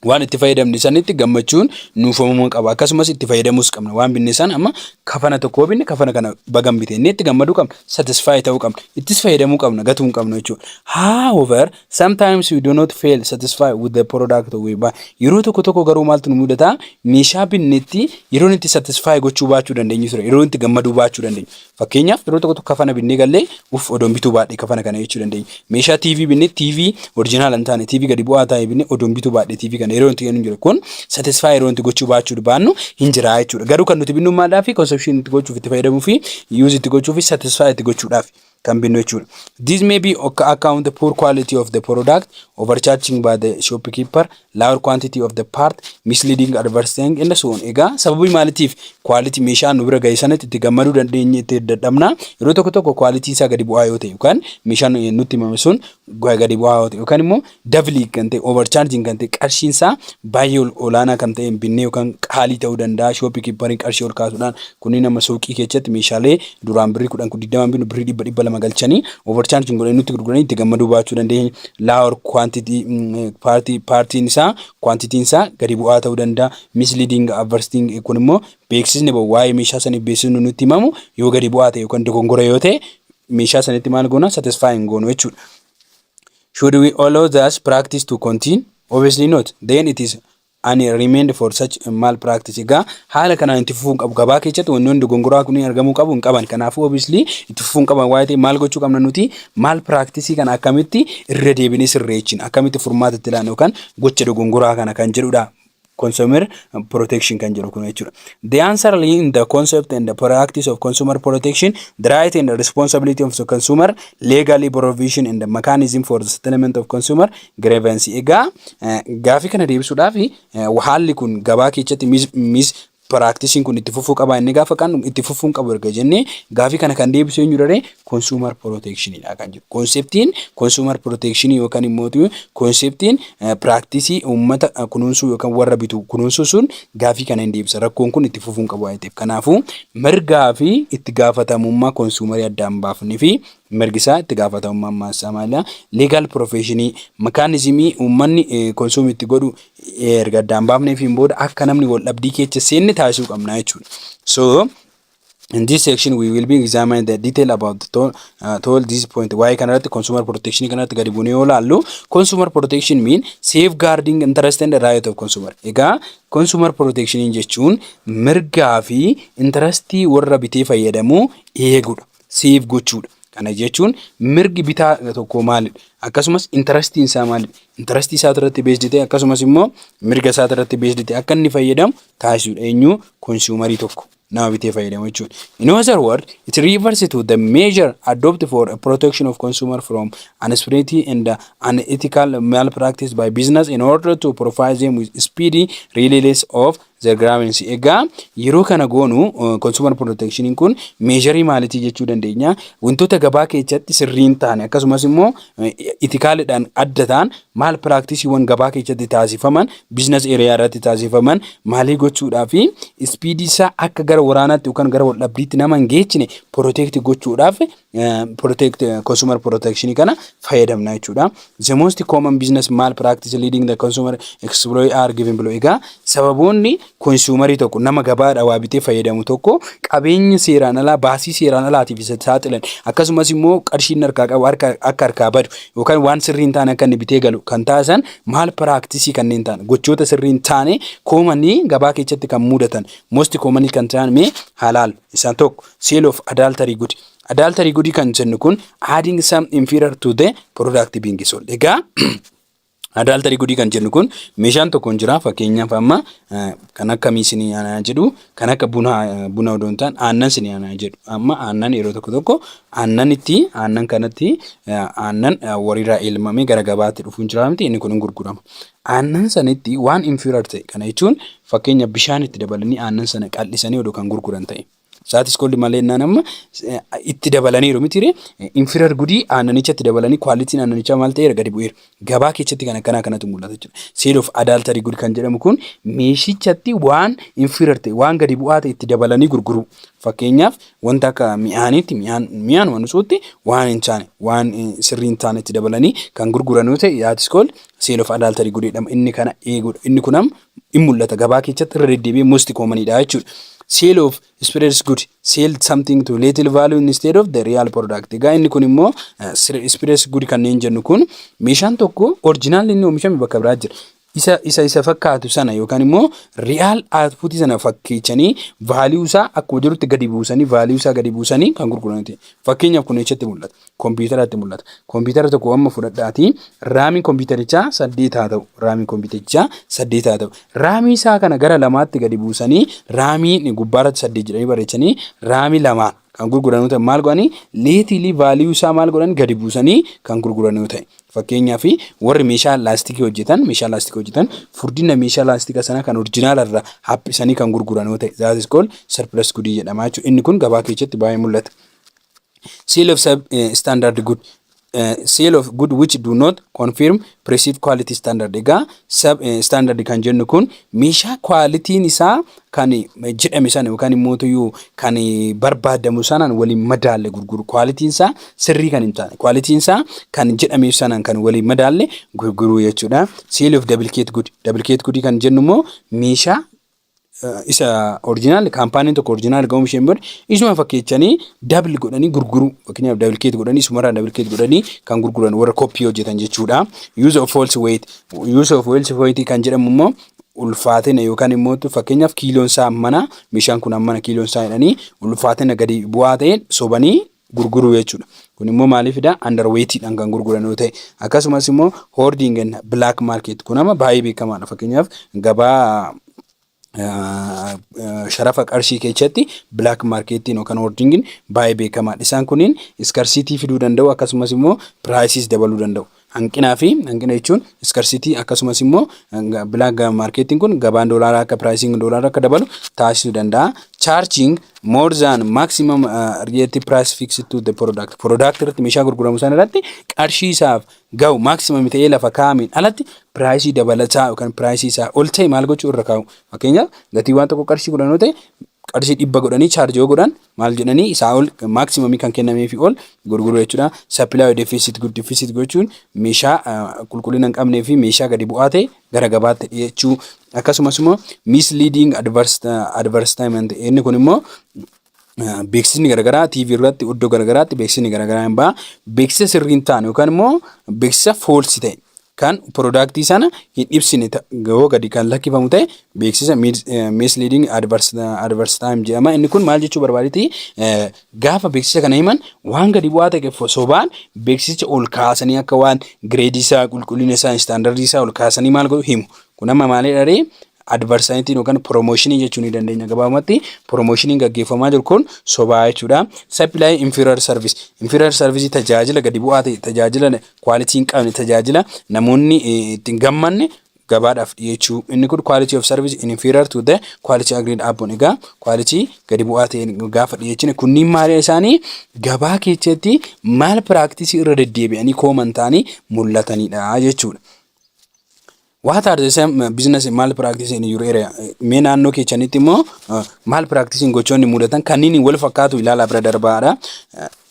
waan itti fayyadamne sanitti gammachuun nuuf uumamuu qaba akkasumas itti fayyadamuus qabna waan binne san amma kafana tokkoo binne kafana kana bagan bite inni itti gammaduu qabna satisfy ta'uu qabna ittis fayyadamuu qabna gatuu hin qabna jechuudha however Sometimes we do not feel satisfied with the product we buy. Yeroo tokko tokko garuu maaltu nu mudata? Meeshaa binnetti yeroon itti satisfy gochuu baachuu dandeenyu ture. Yeroo itti gammaduu baachuu dandeenyu. Fakkeenyaaf yeroo tokko tokko kafana binnee gallee uff odoon bituu baadhee kafana kana jechuu dandeenyu. Meeshaa TV binnee TV orjinaala hin taane TV gadi bu'aa taa'e binnee odoon bituu baadhee TV kana yeroo itti jennu jira. Kun satisfy yeroo itti gochuu baachuu baannu hin jira jechuudha. Garuu kan nuti binnu maadhaa fi consumption itti gochuuf itti fayyadamuu fi use itti gochuu fi satisfy itti gochuudhaaf. kan binnu jechuudha. This may be akka account the poor quality of the product, overcharging by the shopkeeper, lower quantity of the part, misleading advertising and so on. Egaa sababii maalitiif quality meeshaa nu bira ga'e sanatti itti gammaduu dandeenye itti dadhabna. Yeroo tokko tokko quality isaa gadi bu'aa yoo ta'e yookaan meeshaan nutti himame sun gadi bu'aa yoo ta'e yookaan immoo Dabli kan ta'e overcharging kan ta'e qarshiin isaa baay'ee ol- olaanaa kan ta'een binnee yookaan qaalii ta'uu danda'a. Shooppii kiippariin qarshii ol kaasuudhaan kunniin amma suuqii keessatti meeshaalee duraan birrii kudhan kun digdamaan binnu birrii dhibba dhibba lama galchanii overcharging godhanii nutti gurguranii itti gammaduu baachuu dandeenya. Lower quantity mm, party paartiin isaa quantitiin isaa gadi bu'aa ta'uu danda'a. Misleading advertising kun immoo beeksisni ba'u waa'ee meeshaa saniif beeksisni nutti himamu yoo gadi bu'aa ta'e yookaan dogongora yoo ta'e meeshaa sanitti maal goona satisfy hin goonu jechuudha. Should we allow thus practice to continue? Obviously not. Then it is an remand for such a mal practice. Egaa haala kanaan itti fufuu hin qabu. Gabaa keessatti wantoonni dogongoraa kunniin argamuu qabu hin qaban. Kanaafuu obviously itti fufuu hin qaban waa'ee ta'e maal gochuu qabna nuti maal practice kana akkamitti irra deebinee sirreechina akkamitti furmaata itti laanna yookaan gocha dogongoraa kana kan jedhudha consumer protection kan jedhu kun jechuudha. The answer lay in the concept and the practice of consumer protection, the right and the responsibility of the consumer, legally provision and the mechanism for the settlement of consumer grievance. Egaa eh, gaafii kana deebisuudhaaf eh, haalli kun gabaa keessatti mis, mis Piraaktisiin kun itti fufuu qabaa inni gaafa kan itti fufuun qabu erga jennee gaafii kana kan deebisu eenyu dharee konsuumar pirooteekshiniidha kan jiru. Konseptiin konsuumar pirooteekshinii yookaan immoo konseptiin piraaktisii uummata kunuunsuu yookaan warra bitu kunuunsuu sun gaafii kana hin deebisa. Rakkoon kun itti fufuun qabu waan ta'eef. Kanaafuu mirgaa fi itti gaafatamummaa konsuumarii addaan baafnee fi mirgisaa itti gaafatamummaa ammaansaa maalidha? Leegaal piroofeeshinii makaanizimii uummanni konsuum itti godhu erga addaan baafneefiin booda akka namni wal dhabdii keessa seenne taasisuu qabna jechuudha. So in this section we will be examine the detail about the toll, uh, toll this point waa'ee kanarratti consumer protection kanarratti gadi buunee yoo laallu consumer protection mean safeguarding interest and right of consumer. Egaa consumer protection jechuun mirgaa fi intarastii warra bitee fayyadamuu eegudha. seef gochuudha. Kana jechuun mirgi bitaa tokkoo maalidha? Akkasumas intarastiin isaa maalidha? Intarastii isaa irratti beesdi ta'e akkasumas immoo mirga isaa irratti beesdi ta'e akka inni fayyadamu taasisuudha. Eenyu konsuumarii tokko nama bitee fayyadamu jechuudha. In other words, it refers to the measure adopted for a protection of consumer from unspirity and unethical malpractice by business in order to provide them with speedy release of the gramency. Egaa yeroo kana goonu consumer protectionin kun meesharii maalitii jechuu dandeenya wantoota gabaa keessatti sirriin ta'an akkasumas immoo itikaalidhaan adda ta'an maal piraaktiisiiwwan gabaa keessatti taasifaman biizines eeriyaa irratti taasifaman maalii gochuudhaa fi ispiidii isaa akka gara waraanaatti yookaan gara waldhabdiitti nama hin geechine protect gochuudhaaf consumer protection kana fayyadamna jechuudha. The most common business malpractice leading the consumer exploit are given below. Egaa sababoonni konsuumarii tokko nama gabaadha waa bitee fayyadamu tokko qabeenya seeraan alaa baasii seeraan alaatiif isa saaxilan akkasumas immoo qarshiin harkaa qabu harka akka harkaa badu yookaan waan sirrii hin taane akka inni bitee galu kan taasisan maal piraaktisii kanneen ta'an gochoota sirrii hin taane koomanii gabaa keessatti kan mudatan most commonly kan ta'an mee halaal isaan tokko Sale of adultery good. Adultery good kan jennu kun adding some inferior to the product being sold. Egaa adultery good kan jennu kun meeshaan tokko hin jira fakkeenyaaf amma kan akka miisin aanaa jedhu kan akka buna buna odoo hin taane aannan sin aanaa jedhu amma aannan yeroo tokko tokko aannan itti aannan kanatti aannan wariirraa elmamee gara gabaatti dhufuun jira miti inni kun hin gurgurama. Aannan sanitti waan inferior ta'e kana jechuun fakkeenya bishaan itti dabalanii aannan sana qal'isanii odoo kan gurguran ta'e. Saatis koldi malee innaan amma itti dabalaniiru miti ree infirar gudii aannanichatti dabalanii kwaalitiin aannanichaa maal ta'eera gadi bu'eera. Gabaa keessatti kan akkanaa kanatu mul'ata jechuudha. Sale of adultery good kan jedhamu kun meeshichatti waan infirar ta'e waan gadi bu'aa ta'e itti dabalanii gurguruu. Fakkeenyaaf wanta akka mi'aaniitti mi'aan mi'aan waan usuutti waan hin taane waan sirrii hin taane itti dabalanii kan gurguran yoo ta'e saatis koldi sale of adultery good jedhama. Inni kana eeguudha. Inni kun amma in mul'ata gabaa keechatti irra deddeebi'ee most common dha jechuudha. Sale of spreads good sell something to little value instead of the real product. Egaa inni kun immoo spreads good kanneen jennu kun meeshaan tokko orjinaalli inni oomishame bakka biraa jira. Isa isa isa fakkaatu sana yookaan immoo real output sana fakkeechanii value isaa akkuma jirutti gadi buusanii value isaa gadi buusanii kan gurguraniti. Fakkeenyaaf kun eessatti mul'ata? kompiitaraatti mul'ata. Kompiitara tokko amma fudhadhaatii raamiin kompiitarichaa saddeet haa ta'u. Raamiin kompiitarichaa saddeet haa ta'u. Raamii isaa kana gara lamaatti gadi buusanii raamii gubbaarratti saddeet jedhanii barreessanii raamii lama kan gurguran yoo ta'e maal godhanii leetiilii vaaliyuu isaa maal godhan gadi buusanii kan gurguran yoo ta'e. Fakkeenyaaf warri meeshaa laastikii hojjetan meeshaa laastikii hojjetan furdina meeshaa laastika sana kan orjinaala irraa haphisanii kan gurguran yoo ta'e zaatis kool sarpilas gudii jedhama jechuudha. Inni kun gabaa keessatti baay'ee mul'ata. seal of sub eh, standard good eh, seal of good which do not confirm perceived quality standard egaa sub eh, standard kan jennu kun meeshaa kwaalitiin isaa kan eh, jedhame sana yookaan immoo tuyuu kan eh, barbaadamu sanaan waliin madaalle gurguru kwaalitiin isaa sirrii kan hin taane kwaalitiin isaa kan jedhameef sanaan kan waliin madaalle gurguruu jechuudha seal of duplicate good duplicate good kan jennu immoo meeshaa isa orjinaal kaampaaniin tokko orjinaal ga'uun isheen booda isuma fakkeechanii dabli godhanii gurguruu fakkeenyaaf dabli keet godhanii isumarraa dabli keet godhanii kan gurguran warra koppii hojjetan jechuudha. Use of false weight use of false weight kan jedhamu immoo ulfaatina yookaan immoo fakkeenyaaf kiiloon isaa hammana meeshaan kun hammana kiiloon isaa jedhanii ulfaatina gadi bu'aa ta'een sobanii gurguruu jechuudha. Kun immoo maaliif fidaa? Underweightiidhaan kan gurguran yoo ta'e akkasumas immoo hoarding and black market kun amma baay'ee beekamaadha. Fakkeenyaaf gabaa sharafa qarshii keessatti black marketiin yookaan hoardingin baay'ee beekamaadha. Isaan kunniin iskarsiitii fiduu danda'u akkasumas immoo prices dabaluu danda'u. hanqinaa fi hanqina jechuun iskarsitii akkasumas immoo bilaak maarkeetiin kun gabaan doolaaraa akka piraayisiin doolaaraa akka dabalu taasisuu danda'a. Charging more than maximum uh, relative price fixed to the product. Product irratti meeshaa gurguramu sana irratti qarshii isaaf gahu maximum ta'ee lafa kaa'ameen alatti piraayisii dabalataa yookaan piraayisii isaa ol ta'e maal gochuu irra kaa'u. Fakkeenyaaf gatii waan tokko qarshii kudhan yoo ta'e qarshii dhibba godhanii chaarjii yoo godhan maal jedhanii isaa ol maaksimaamii kan kennameefi ol gurguruu jechuudha. Sappilaayoo defisit good defisit gochuun meeshaa qulqullina hin qabnee fi meeshaa gadi bu'aa ta'e gara gabaatti dhiyeechuu akkasumas immoo misleading advertisement inni kun immoo beeksisni garaagaraa TV irratti iddoo garaagaraatti beeksisni garaagaraa hin ba'a. Beeksisa sirrii hin taane yookaan immoo beeksisa foolsi ta'e kan product sana hin ibsine ta- yoo gadi kan lakkifamu ta'e beeksisa mis- eh, misleading adverse adverse time jedhama inni kun maal jechuu barbaaditi Eh, gaafa beeksisa kana himan waan gadi bu'aa ta'e fo- sobaan beeksisicha ol kaasanii akka waan gireedii isaa qulqullina isaa istaandardii isaa ol kaasanii maal godhu himu kun amma maalidha ree advarsanitiin yookaan promotionii jechuu ni dandeenya gabaabumatti promotioniin gaggeeffamaa jiru kun sobaa jechuudha supply inferior service inferior service tajaajila gadi bu'aa ta'e tajaajila quality hin qabne tajaajila namoonni ittiin gammanne gabaadhaaf dhiyeechuu inni kun quality of service in inferior to the quality agreed upon egaa quality gadi bu'aa ta'e gaafa dhiyeechine kunniin maaliidha isaanii gabaa keessatti maal piraaktisii irra deddeebi'anii kooman ta'anii mul'atanidha jechuudha. What are the same business and malpractice in your area? Mee naannoo keessanitti immoo malpractice gochoonni mudatan kanneen wal fakkaatu ilaalaa bira darbaadha.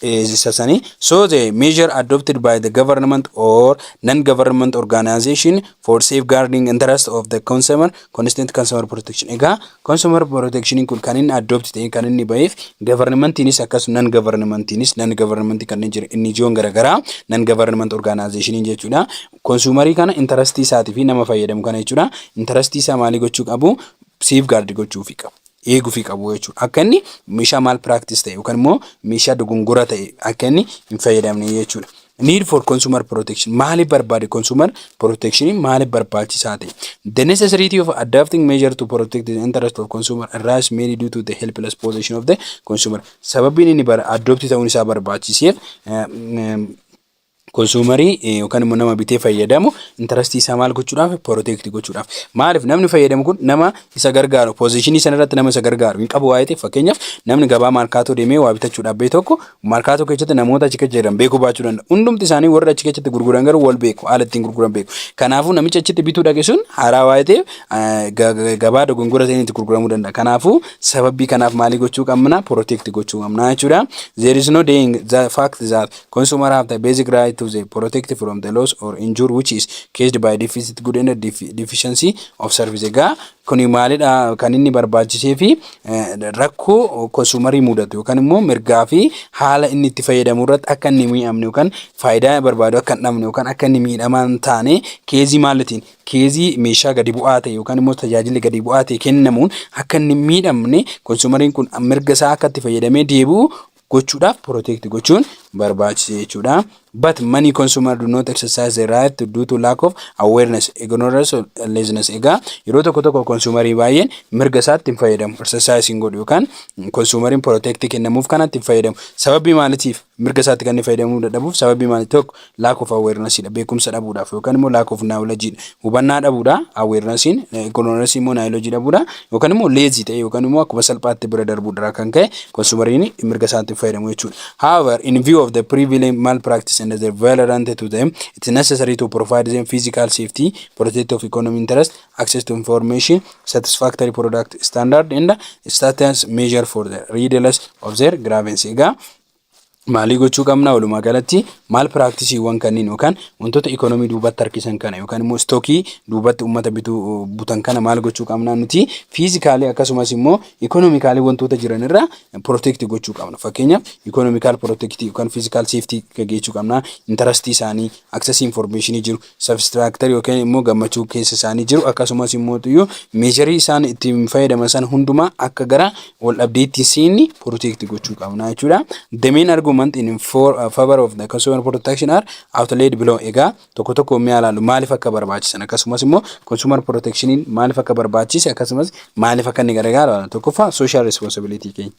Isa sanii so the measure adopted by the government or non-government organization for safeguarding interest of the consumer constant consumer protection. Egaa consumer protection kun kan inni adopt ta'e kan inni ba'eef governmentiinis akkasuma non governmentiinis non government kanneen jiran inni ijoon garaagaraa non government organization jechuudha. Consumer kana interest isaati fi nama fayyadamu kana jechuudha. Interest isaa maalii gochuu qabu? Safeguard gochuu fi qabu. Eeguu fi qabu jechuudha. Akka inni meeshaa maal practice ta'e yookaan immoo meeshaa dogongora ta'e akka inni hin fayyadamne jechuudha. Need for consumer protection maaliif barbaade consumer protection maaliif barbaachisaa ta'e? The necessity of adapting measure to protect the interest of consumer arise mainly due to the helpless position of the consumer. Sababiin inni bara adopt ta'uun isaa barbaachiseef Konsuumarii yookaan immoo nama bitee fayyadamu intarastii isaa maal gochuudhaaf poroteekti gochuudhaaf. Maaliif namni fayyadamu kun nama isa gargaaru poozishinii sana irratti nama isa gargaaru hin qabu waa'ee ta'eef fakkeenyaaf namni gabaa maarkaatoo deemee waa bitachuudhaaf bee tokko maarkaatoo keessatti namoota achi keessa jiran beekuu baachuu danda'a. Hundumti isaanii warri achi keessatti gurguran garuu wal beeku haala ittiin gurguran beeku. Kanaafuu namicha achitti bituu dhaqe sun haaraa waa'ee ta'eef gabaa dogongora ta'een itti gurguramuu danda'a. Kanaafuu sababii kanaaf maalii gochuu qabna poroteekti gochuu qabna jechuudha. There is no denying the fact that Consumer have the basic right to the protect from the loss or injure which is caused by deficit good and deficiency of service. Egaa kuni maalidha kan inni barbaachisee fi rakkoo konsuumarii mudatu yookaan immoo mirgaa fi haala inni itti fayyadamu irratti akka inni miidhamne yookaan faayidaa barbaadu akka hin dhabne yookaan akka inni miidhamaa hin taane keezii maalitiin keezii meeshaa gadi bu'aa ta'e yookaan immoo tajaajilli gadi bu'aa ta'e kennamuun akka inni miidhamne konsuumariin kun mirga isaa akka itti fayyadamee deebi'u gochuudhaaf protect gochuun barbaachisa jechuudha. But many consumer do not exercise the right to due to lack of awareness, ignorance or laziness. Egaa yeroo tokko tokko konsuumarii baay'een mirga isaatti hin fayyadamu, exercise hin godhu yookaan konsuumariin protect kennamuuf kanatti hin fayyadamu. Sababii maalitiif mirga isaatti kan inni fayyadamuu dadhabuuf sababii maali tokko Lack of awareness dha. Beekumsa dhabuudhaaf yookaan immoo lack of knowledge dha. Hubannaa dhabuudha. Awarenessiin ignorance immoo knowledge dhabuudha. Yookaan immoo lazy ta'e yookaan immoo akkuma salphaatti bira darbuudharaa kan ka'e konsumariin mirga isaatti fayyadamu jechuudha. However, in view of the prevalent malpractice and the violent to them, it's necessary to provide them physical safety, protect of economic interest, access to information, satisfactory product standard and status measure for the redress of their grievances. Egaa Maalii gochuu qabna walumaa galatti maal piraaktiisiiwwan kanniin yookaan wantoota ikoonomii duubatti harkisan kana yookaan immoo istookii duubatti uummata bituu butan kana maal gochuu qabna nuti fiizikaalii akkasumas immoo ikoonomikaalii wantoota jiran irraa pirootekti gochuu qabna fakkeenya ikoonomikaal pirootektii yookaan fiizikaal seeftii gaggeessuu qabna intarastii isaanii aksasii infoormeeshinii jiru substructure yookiin immoo gammachuu keessa isaanii jiru akkasumas immoo tuyyu meesharii isaan ittiin fayyadaman sana hundumaa akka gara wal dhabdeetti seenni protect gochuu qabna jechuudha. The main argument in for, uh, favor of the consumer protection are outlaid below egaa tokko tokko mi'a ilaalu maaliif akka barbaachisan akkasumas immoo consumer protectioniin maaliif akka barbaachise akkasumas maaliif akka inni gargaaru tokkoffaa social responsibility keenya.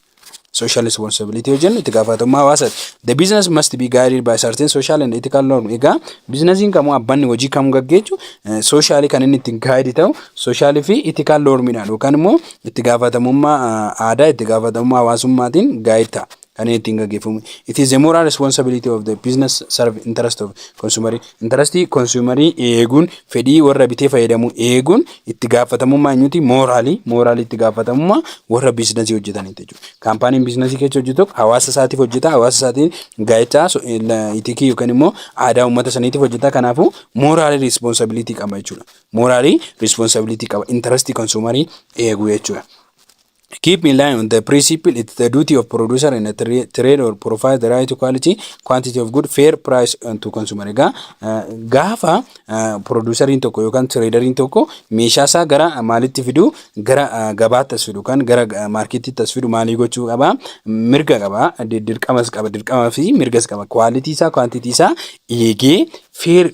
social responsibility yoo jennu itti gaafatamummaa hawaasaati. The business must be guided by certain social and ethical norms. Egaa bizinasiin kamuu abbanni hojii kamuu gaggeessu soshaalii kan inni ittiin gaayidi ta'u soshaalii fi ethical normiidhaan yookaan immoo itti gaafatamummaa aadaa itti gaafatamummaa hawaasummaatiin gaayid ta'a. Kan inni ittiin gaggeeffamu. It is the moral responsibility of the business serve interest of consumer. Intarastii konsuumarii eeguun, fedhii warra bitee fayyadamu eeguun itti gaafatamummaa eenyuti? Mooraalii. Mooraalii itti gaafatamummaa warra biizinasii hojjetaniiti jechuudha. Kaampaaniin biizinasii keessa hojjetu tokko hawaasa isaatiif hojjeta. Hawaasa isaatiin gaa'ichaa so- eh, la- itikii yookiin immoo aadaa uummata saniitiif hojjeta. Kanaafuu mooraalii riispoonsabiliitii qaba jechuudha. Mooraalii riispoonsabiliitii qaba. Intarastii konsuumarii eeguu jechuudha. Keep in line on the principle it's the duty of producer and a tra- trade or provide the right quality quantity of good fair price uh, to consumer. Egaa uh, gaafa uh, producerriin tokko yookaan traderiin tokko meeshaa isaa gara uh, maalitti fidu gara uh, gabaatti as fidu kan gara uh, maarkettiitti as fidu maalii gochuu qaba mirga qaba di- dirqamas qaba dirqamaa fi mirgas qaba kwaalitii isaa kwaantitii isaa eegee feer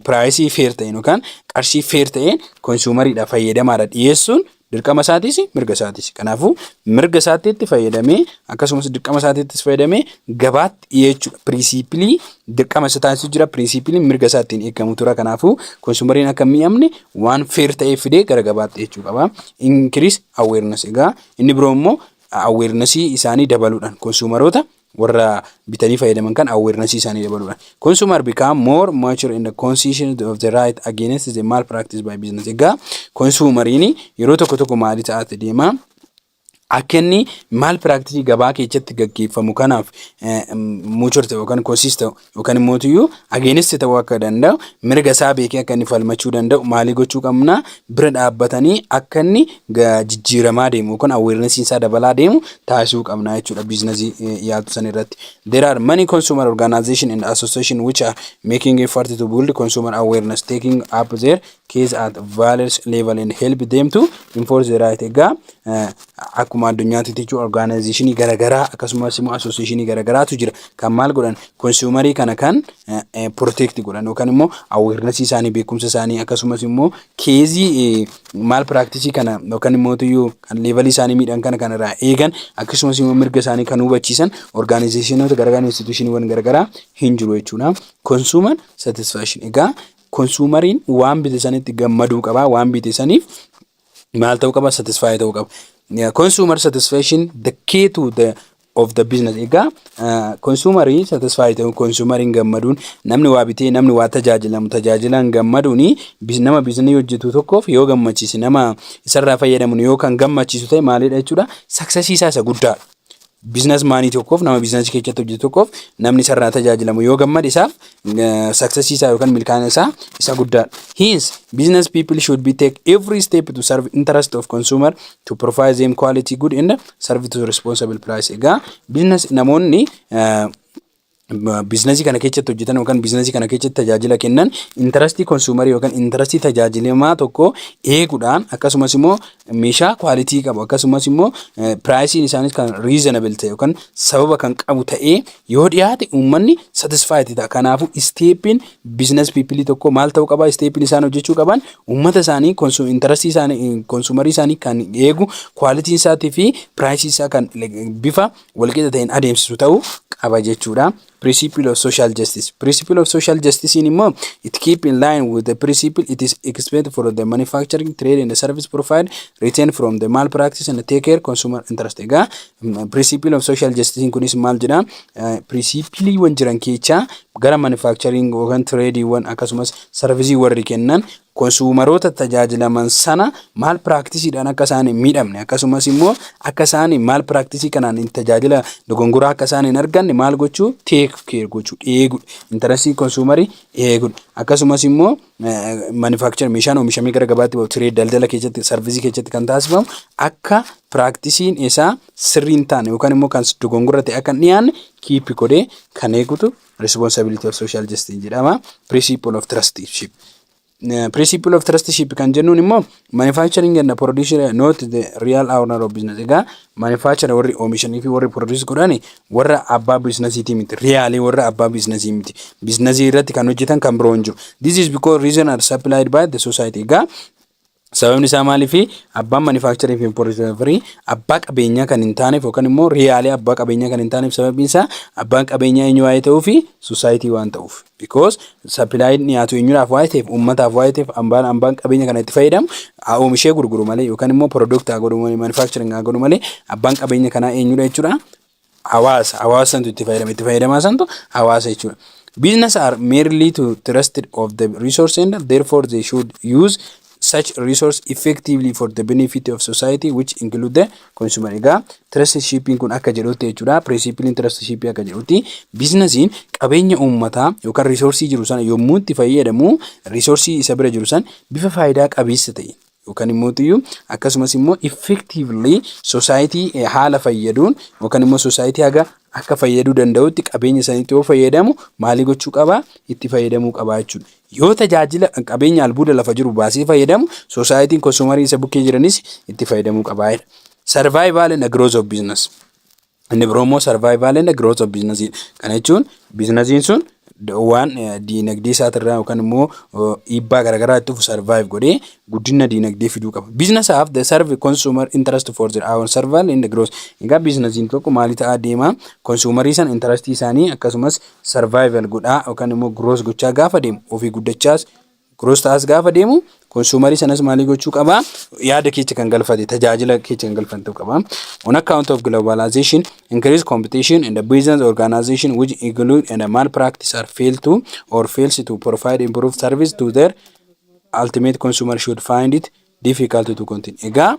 piraayisii feer ta'een yookaan qarshii feer ta'een konsuumariidha fayyadamaadha dhiyeessuun Dirqama isaatiis mirga isaatiis. Kanaafuu mirga isaatiitti fayyadamee akkasumas dirqama isaatiittis fayyadamee gabaatti dhiyeechuudha. Piriisiipilii dirqama isa taasisu jira. Piriisiipiliin mirga isaa ittiin eegamu tura. Kanaafuu konsuumariin akka miidhamne waan feer ta'ee fidee gara gabaatti dhiyeechuu qaba. Inkiriis aweernas egaa inni biroo immoo aweernasii isaanii dabaluudhaan konsuumaroota warra bitanii fayyadaman kan awareness isaanii dabaluudhaan. Consumer become more mature in the conscious of the right against the malpractice by business. Egaa konsumariin yeroo tokko tokko maali ta'aati deema. Akka inni maal piraaktisii gabaa keessatti gaggeeffamu kanaaf muucur ta'e yookaan konsiis ta'u yookaan immoo iyyuu ageenistii ta'uu akka danda'u mirga isaa beekee akka inni falmachuu danda'u maalii gochuu qabna bira dhaabbatanii akka inni jijjiiramaa deemu yookaan awareness isaa dabalaa deemu taasisuu qabna jechuudha biiznasii yaatu san irratti. There are many consumer organization and association which are making effort to build consumer awareness taking up their keys at violence level and help them to enforce the right egaa eh, akkuma addunyaatti jechuun orgaanaayizeshinii garaagaraa akkasumas immoo asooseeshinii garaagaraatu jira kan maal godhan konsuumarii kana kan protect eh, eh, godhan yookaan immoo aweernasii isaanii beekumsa isaanii akkasumas immoo keezii maal piraaktisii kana yookaan immoo tuyyuu kan leevalii isaanii miidhan kana kan irraa eegan akkasumas immoo mirga isaanii kan hubachiisan orgaanaayizeshinoota garaagaraa instituushiniiwwan garaagaraa hin jiru jechuudha konsuuman satisfaashin egaa Konsuumariin waan bite sanitti gammaduu qaba. Waan bite saniif maal ta'uu qaba? Satisfaayii ta'uu qaba. Konsuumar satisfaction the key to the of the business. Egaa konsuumarii satisfaayii ta'uu konsuumariin gammaduun namni waa bitee namni waa tajaajilamu tajaajilaan gammaduun nama biizinii hojjetu tokkoof yoo gammachiise nama isarraa fayyadamu yoo kan gammachiisu ta'e maalidha jechuudha? Saksasii isaa isa guddaadha. Bizinas maanii tokkoof nama bizinasii keessatti hojjetu tokkoof namni sarara tajaajilamu yoo gammade isaaf saksesii isaa yookaan milkaa'ina isaa isa guddaadha. Hence, business people should be take every step to serve interest of consumer to provide them quality good and serve to responsible price. Egaa business namoonni biiznasii kana keessatti hojjetan yookaan biiznasii kana keessatti tajaajila kennan intarastii konsuumarii yookaan intarastii tajaajilamaa tokko eeguudhaan akkasumas immoo meeshaa kwaalitii qabu akkasumas immoo piraayisiin isaaniis kan riizanabil ta'e yookaan sababa kan qabu ta'ee yoo dhiyaate uummanni satisfaayiti ta'a. Kanaafuu isteeppiin biiznas piipilii tokko maal ta'uu qaba isteeppiin isaan hojjechuu qaban uummata isaanii intarastii isaanii konsuumarii isaanii kan eegu kwaalitiin isaatii fi piraayisii isaa kan bifa walqixa ta'een adeemsisu ta'uu qaba jechuudha. Principle of social justice. Principle of social justice immoo it keep in line with the principle it is expected for the manufacturing trade and the service provided retain from the malpractice and take care consumer interest. Egaa principle of social justice kunis maal jedha? Principleewwan jiran keessaa gara manufacturing yookaan tradeewwan akkasumas sarvisiiwwan warri kennan konsuumaroota tajaajilaman sana maal piraaktiisiidhaan akka isaan hin miidhamne akkasumas immoo akka isaan maal piraaktiisii kanaan hin tajaajila dogongoraa akka isaan hin arganne maal gochuu teek keer gochuu eegudha. Intarasii konsuumarii eegudha. Akkasumas immoo manufaakichar meeshaan oomishamee gara gabaatti bahu tiree daldala keessatti sarvisii keessatti kan taasifamu akka piraaktiisiin isaa sirrii hin taane yookaan immoo kan dogongora ta'e akka hin dhiyaanne kiippi godhee kan eegutu Responsibility of Social Justice jedhama. Principle of Trusteeship. Principle of Trusteeship kan jennuun immoo manufacturing and producer not the real owner of business. Egaa manufacturer warri oomishanii fi warri produce godhan warra abbaa biiznasiitii miti. Riyaalii warra abbaa biiznasii miti. Biiznasii irratti kan hojjetan kan biroo hin jiru. This is because reason are supplied by the society. Egaa Sababni isaa maaliifi? Abbaan manufacturing fi importation free abbaa qabeenyaa kan hin taaneef yookaan immoo riyaalee abbaa qabeenyaa kan hin taaneef sababiin isaa abbaan qabeenyaa eenyu waa'ee ta'uu fi society waan ta'uuf. Because supply dhiyaatu eenyudhaaf waa'ee ta'eef uummataaf waa'ee ta'eef abbaan abbaan qabeenya kana itti fayyadamu haa oomishee gurguru malee yookaan immoo product haa godhu malee manufacturing haa godhu malee abbaan qabeenya kanaa eenyudha jechuudha. hawaasa hawaasa santu itti fayyadama itti fayyadamaa santu hawaasa jechuudha. Business are merely to trusted of the resource and therefore they should use such resource effectively for the benefit of society which include the consumer. Egaa trusteeshiipiin kun akka jedhutti jechuudha. Pirinsipiliin trusteeshiipii akka jedhutti biizinasiin qabeenya uummataa yookaan risoorsii jiru sana yommuu itti fayyadamu risoorsii isa bira jiru san bifa faayidaa qabeessa ta'e yookaan immoo iyyuu akkasumas immoo effectively society eh, haala fayyaduun yookaan immoo society haga akka fayyaduu danda'utti qabeenya isaaniitti yoo fayyadamu maalii gochuu qaba itti fayyadamuu qaba jechuudha. Yoo tajaajila qabeenya albuuda lafa jiru baasee fayyadamu society'n konsumarii isa bukkee jiranis itti fayyadamuu qaba. Survival and growth of business. Inni biroo immoo survival and growth of business dha. Kana jechuun biizinasiin sun waan diinagdee isaatirraa yookaan immoo dhiibbaa garaagaraa itti dhufu survive godhee guddina diinagdee fiduu qaba. Business have the serve consumer interest for their own survival and growth. Egaa biizinasiin tokko maalii ta'aa deema? Konsuumarii san intarastii isaanii akkasumas survival godhaa yookaan immoo growth gochaa gaafa deemu ofii guddachaas Gross tax gaafa deemu consumer sanas maalii gochuu qaba yaada keecha kan galfate tajaajila keecha kan galfate ta'uu qaba. On account of globalization, increased competition and the business organization which include and malpractice are failed to or fails to provide improved service to their ultimate consumer should find it difficult to continue. Egaa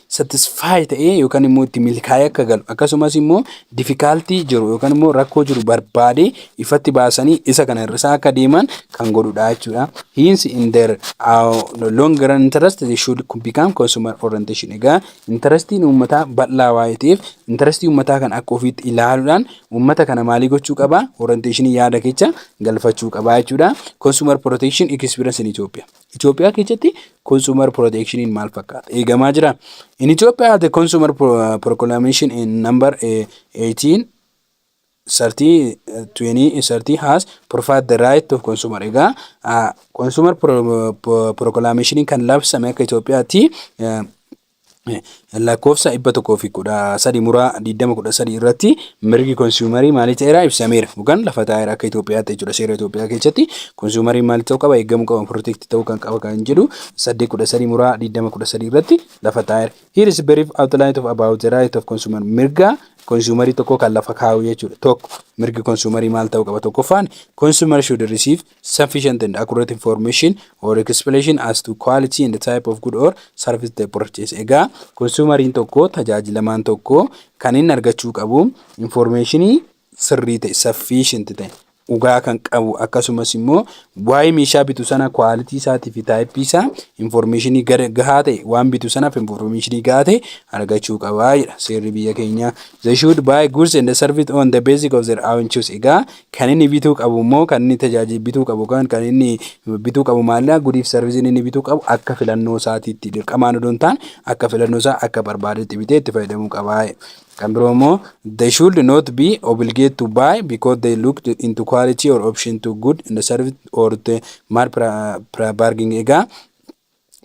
satisfy ta'ee yookaan immoo itti milkaa'ee akka galu akkasumas immoo difikaaltii jiru yookaan immoo rakkoo jiru barbaadee ifatti baasanii isa kana hir'isaa akka deeman kan godhudha jechuudha. Hence in their uh, long run interest they should become consumer orientation. Egaa intarastiin uummataa bal'aa waa'ee ta'eef intarastii uummataa kan akka ofiitti ilaaluudhaan uummata kana maalii gochuu qaba? Orientation yaada kecha galfachuu qaba jechuudha. Consumer protection experience in Ethiopia. Itoophiyaa keessatti consumer protectioniin maal fakkaata? Eegamaa jira. In Ethiopia the consumer pro- proclamation in number eh, 18 30 eh, 20 eh, 30 has provided the right of consumer. Egaa ah, consumer pro- pro- proclamation kan labsame akka Itoophiyaatti eh, lakkoofsa 113 muraa 2013 irratti mirgi konsuumarii maalii ta'eera ibsameera yookaan lafa taa'eera akka Itoophiyaatti jechuudha seera Itoophiyaa keessatti konsuumariin maalii ta'uu qaba eegamuu qaba pirootekti ta'uu kan qaba kan jedhu 813 muraa 2013 irratti lafa taa'eera. Here is brief outline of about the right of consumer mirga konsuumarii tokko kan lafa kaa'u jechuudha tokko mirgi konsuumarii maal ta'uu qaba tokkoffaan consumer should receive sufficient and accurate information or explanation as to quality and type of good or service they purchase. Egaa konsuumariin tokko tajaajilamaan tokko kan inni argachuu qabu information sirrii ta'e sufficient ta'e dhugaa kan qabu akkasumas immoo waa'ee meeshaa bitu sana kwaalitii isaatii fi taayippii isaa information gahaa ta'e waan bitu sanaaf information gahaa ta'e argachuu qaba jedha seerri biyya keenyaa. They should buy goods and service on the basic of their own choice. Egaa Kan inni bituu qabu immoo kan inni tajaajila bituu qabu yookaan kan inni bituu qabu maallaqa gudiif sarviziin inni bituu qabu akka filannoo isaatiitti dirqamaan odoo hin taane akka filannoo isaa akka barbaadetti bitee itti fayyadamuu qaba. Kan biroo immoo they should not be obligate to buy because they looked into quality or option to good and service or to mar barging egaa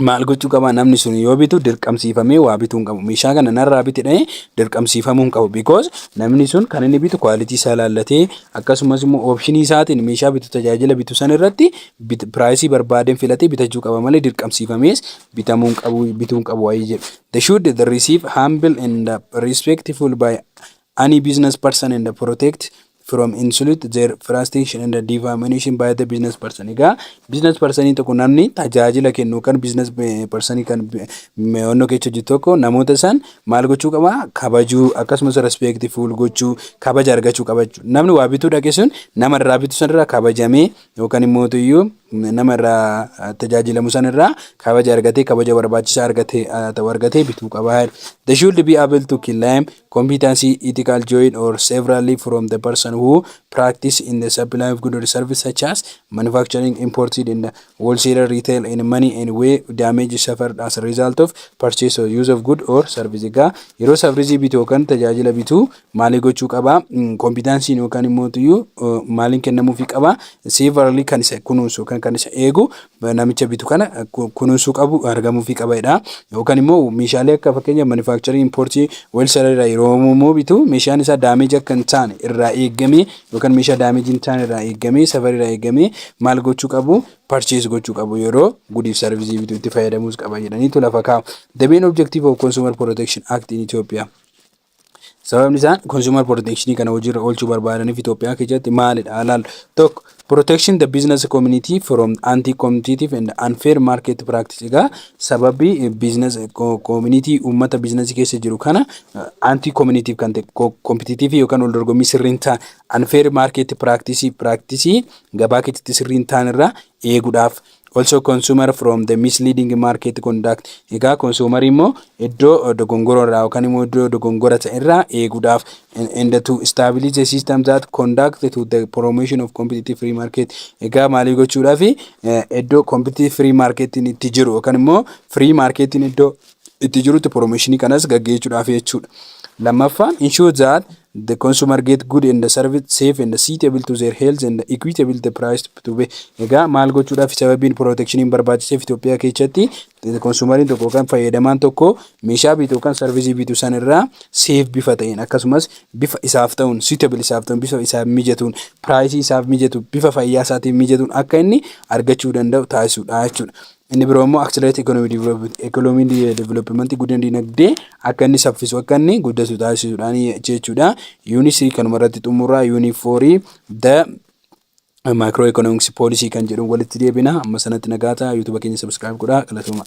maal gochuu qaba namni sun yoo bitu dirqamsiifamee waa bituu hin qabu meeshaa kana narraa biti dha'ee dirqamsiifamuu hin qabu because namni sun kan inni bitu kwaalitii isaa laallatee akkasumas immoo oopshinii isaatiin meeshaa bitu tajaajila bitu san irratti bit- piraayisii barbaadeen filatee bitachuu qaba malee dirqamsiifamees bitamuu hin qabu bituu hin qabu waa'ee jedhu they should receive humble and uh, respectful by Any business person and protect from insult their frustration and defamation by the business person. Egaa business person tokko namni tajaajila kennu yookaan business person kan onnoo keessa hojjetu tokko namoota isaan maal gochuu qaba kabajuu akkasumas respectful gochuu kabaja argachuu qaba jechuudha. Namni waa bituu dhaqe sun nama irraa bitu sanirraa kabajamee Yookaan immootuyyuu nama irraa tajaajilamu san irraa kabaja argatee kabaja barbaachisaa argate ta'u argatee bituu qaba. They should be able to claim competency, ethical join or severally from the person who practice in the supply of goods or service such as manufacturing, imported and wholesale retail in money and way damage suffered as a result of purchase or use of good or service. Egaa yeroo safrizii bitu yookaan tajaajila bitu maalii gochuu qaba kompiitaansiin yookaan immoo tuyyuu maaliin kennamuufii qaba seevaralii kan isa kunuunsu yookaan kan isa eegu namicha bitu kana kunuunsuu qabu argamuufii qaba jedha yookaan immoo meeshaalee akka fakkeenya manifaakcharii impoortii weelsaraa irraa yeroo immoo bitu meeshaan isaa daameeji akka hin taane irraa eegamee yookaan meeshaa daameeji hin taane irraa eegamee safarii irraa eegamee maal gochuu qabu parchees gochuu qabu yeroo gudiif sarvisii bitu itti fayyadamuus qaba jedhaniitu lafa kaa'u. The main objective of Consumer Protection Act in Ethiopia. Sababni isaan consumer protection kana hojiirra oolchuu barbaadaniif Itoophiyaa keessatti maalidha? Halaal tokko protection the business community from anti-competitive and unfair market practice. Egaa sababi business community uummata business keessa jiru kana anti-competitive kan ta'e competitive yookaan wal dorgommii sirriin ta'an unfair market practice practice gabaa keessatti sirriin ta'an irraa eeguudhaaf also consumer from the misleading market conduct egaa konsuumarii immoo iddoo dogongoroo irraa yookaan immoo iddoo dogongora ta'e irraa eeguudhaaf and to establish a system that conduct to the promotion of competitive free market egaa maalii gochuudhaaf iddoo competitive free marketiin itti jiru yookaan immoo free marketiin iddoo itti jirutti promotionii kanas gaggeessuudhaaf jechuudha. Lammaffaan ensure that The consumer get good and served safe and suitable to their health and equitable the price to pay. Egaa maal gochuudhaaf sababiin protection barbaachiseef Itoophiyaa keessatti konsumariin tokko yookaan fayyadamaan tokko meeshaa bitu yookaan sarvisii bitu san irraa seef bifa ta'een akkasumas bifa isaaf ta'uun suitable isaaf ta'uun bifa isaaf mijatuun piraayisii isaaf mijatu bifa fayyaa isaatiin mijatuun akka inni argachuu danda'u taasisuudha jechuudha. Inni biroo immoo accelerate economic development economic development guddina dinagdee akka inni saffisu akka inni guddatu taasisuudhaan jechuudha. Yuunii sirii kanuma irratti xumurraa yuunii foorii the maayikiroo economics poolisii kan jedhu walitti deebina amma sanatti nagaa ta'a yuutuba keenya sabiskiraayib godhaa galatoomaa.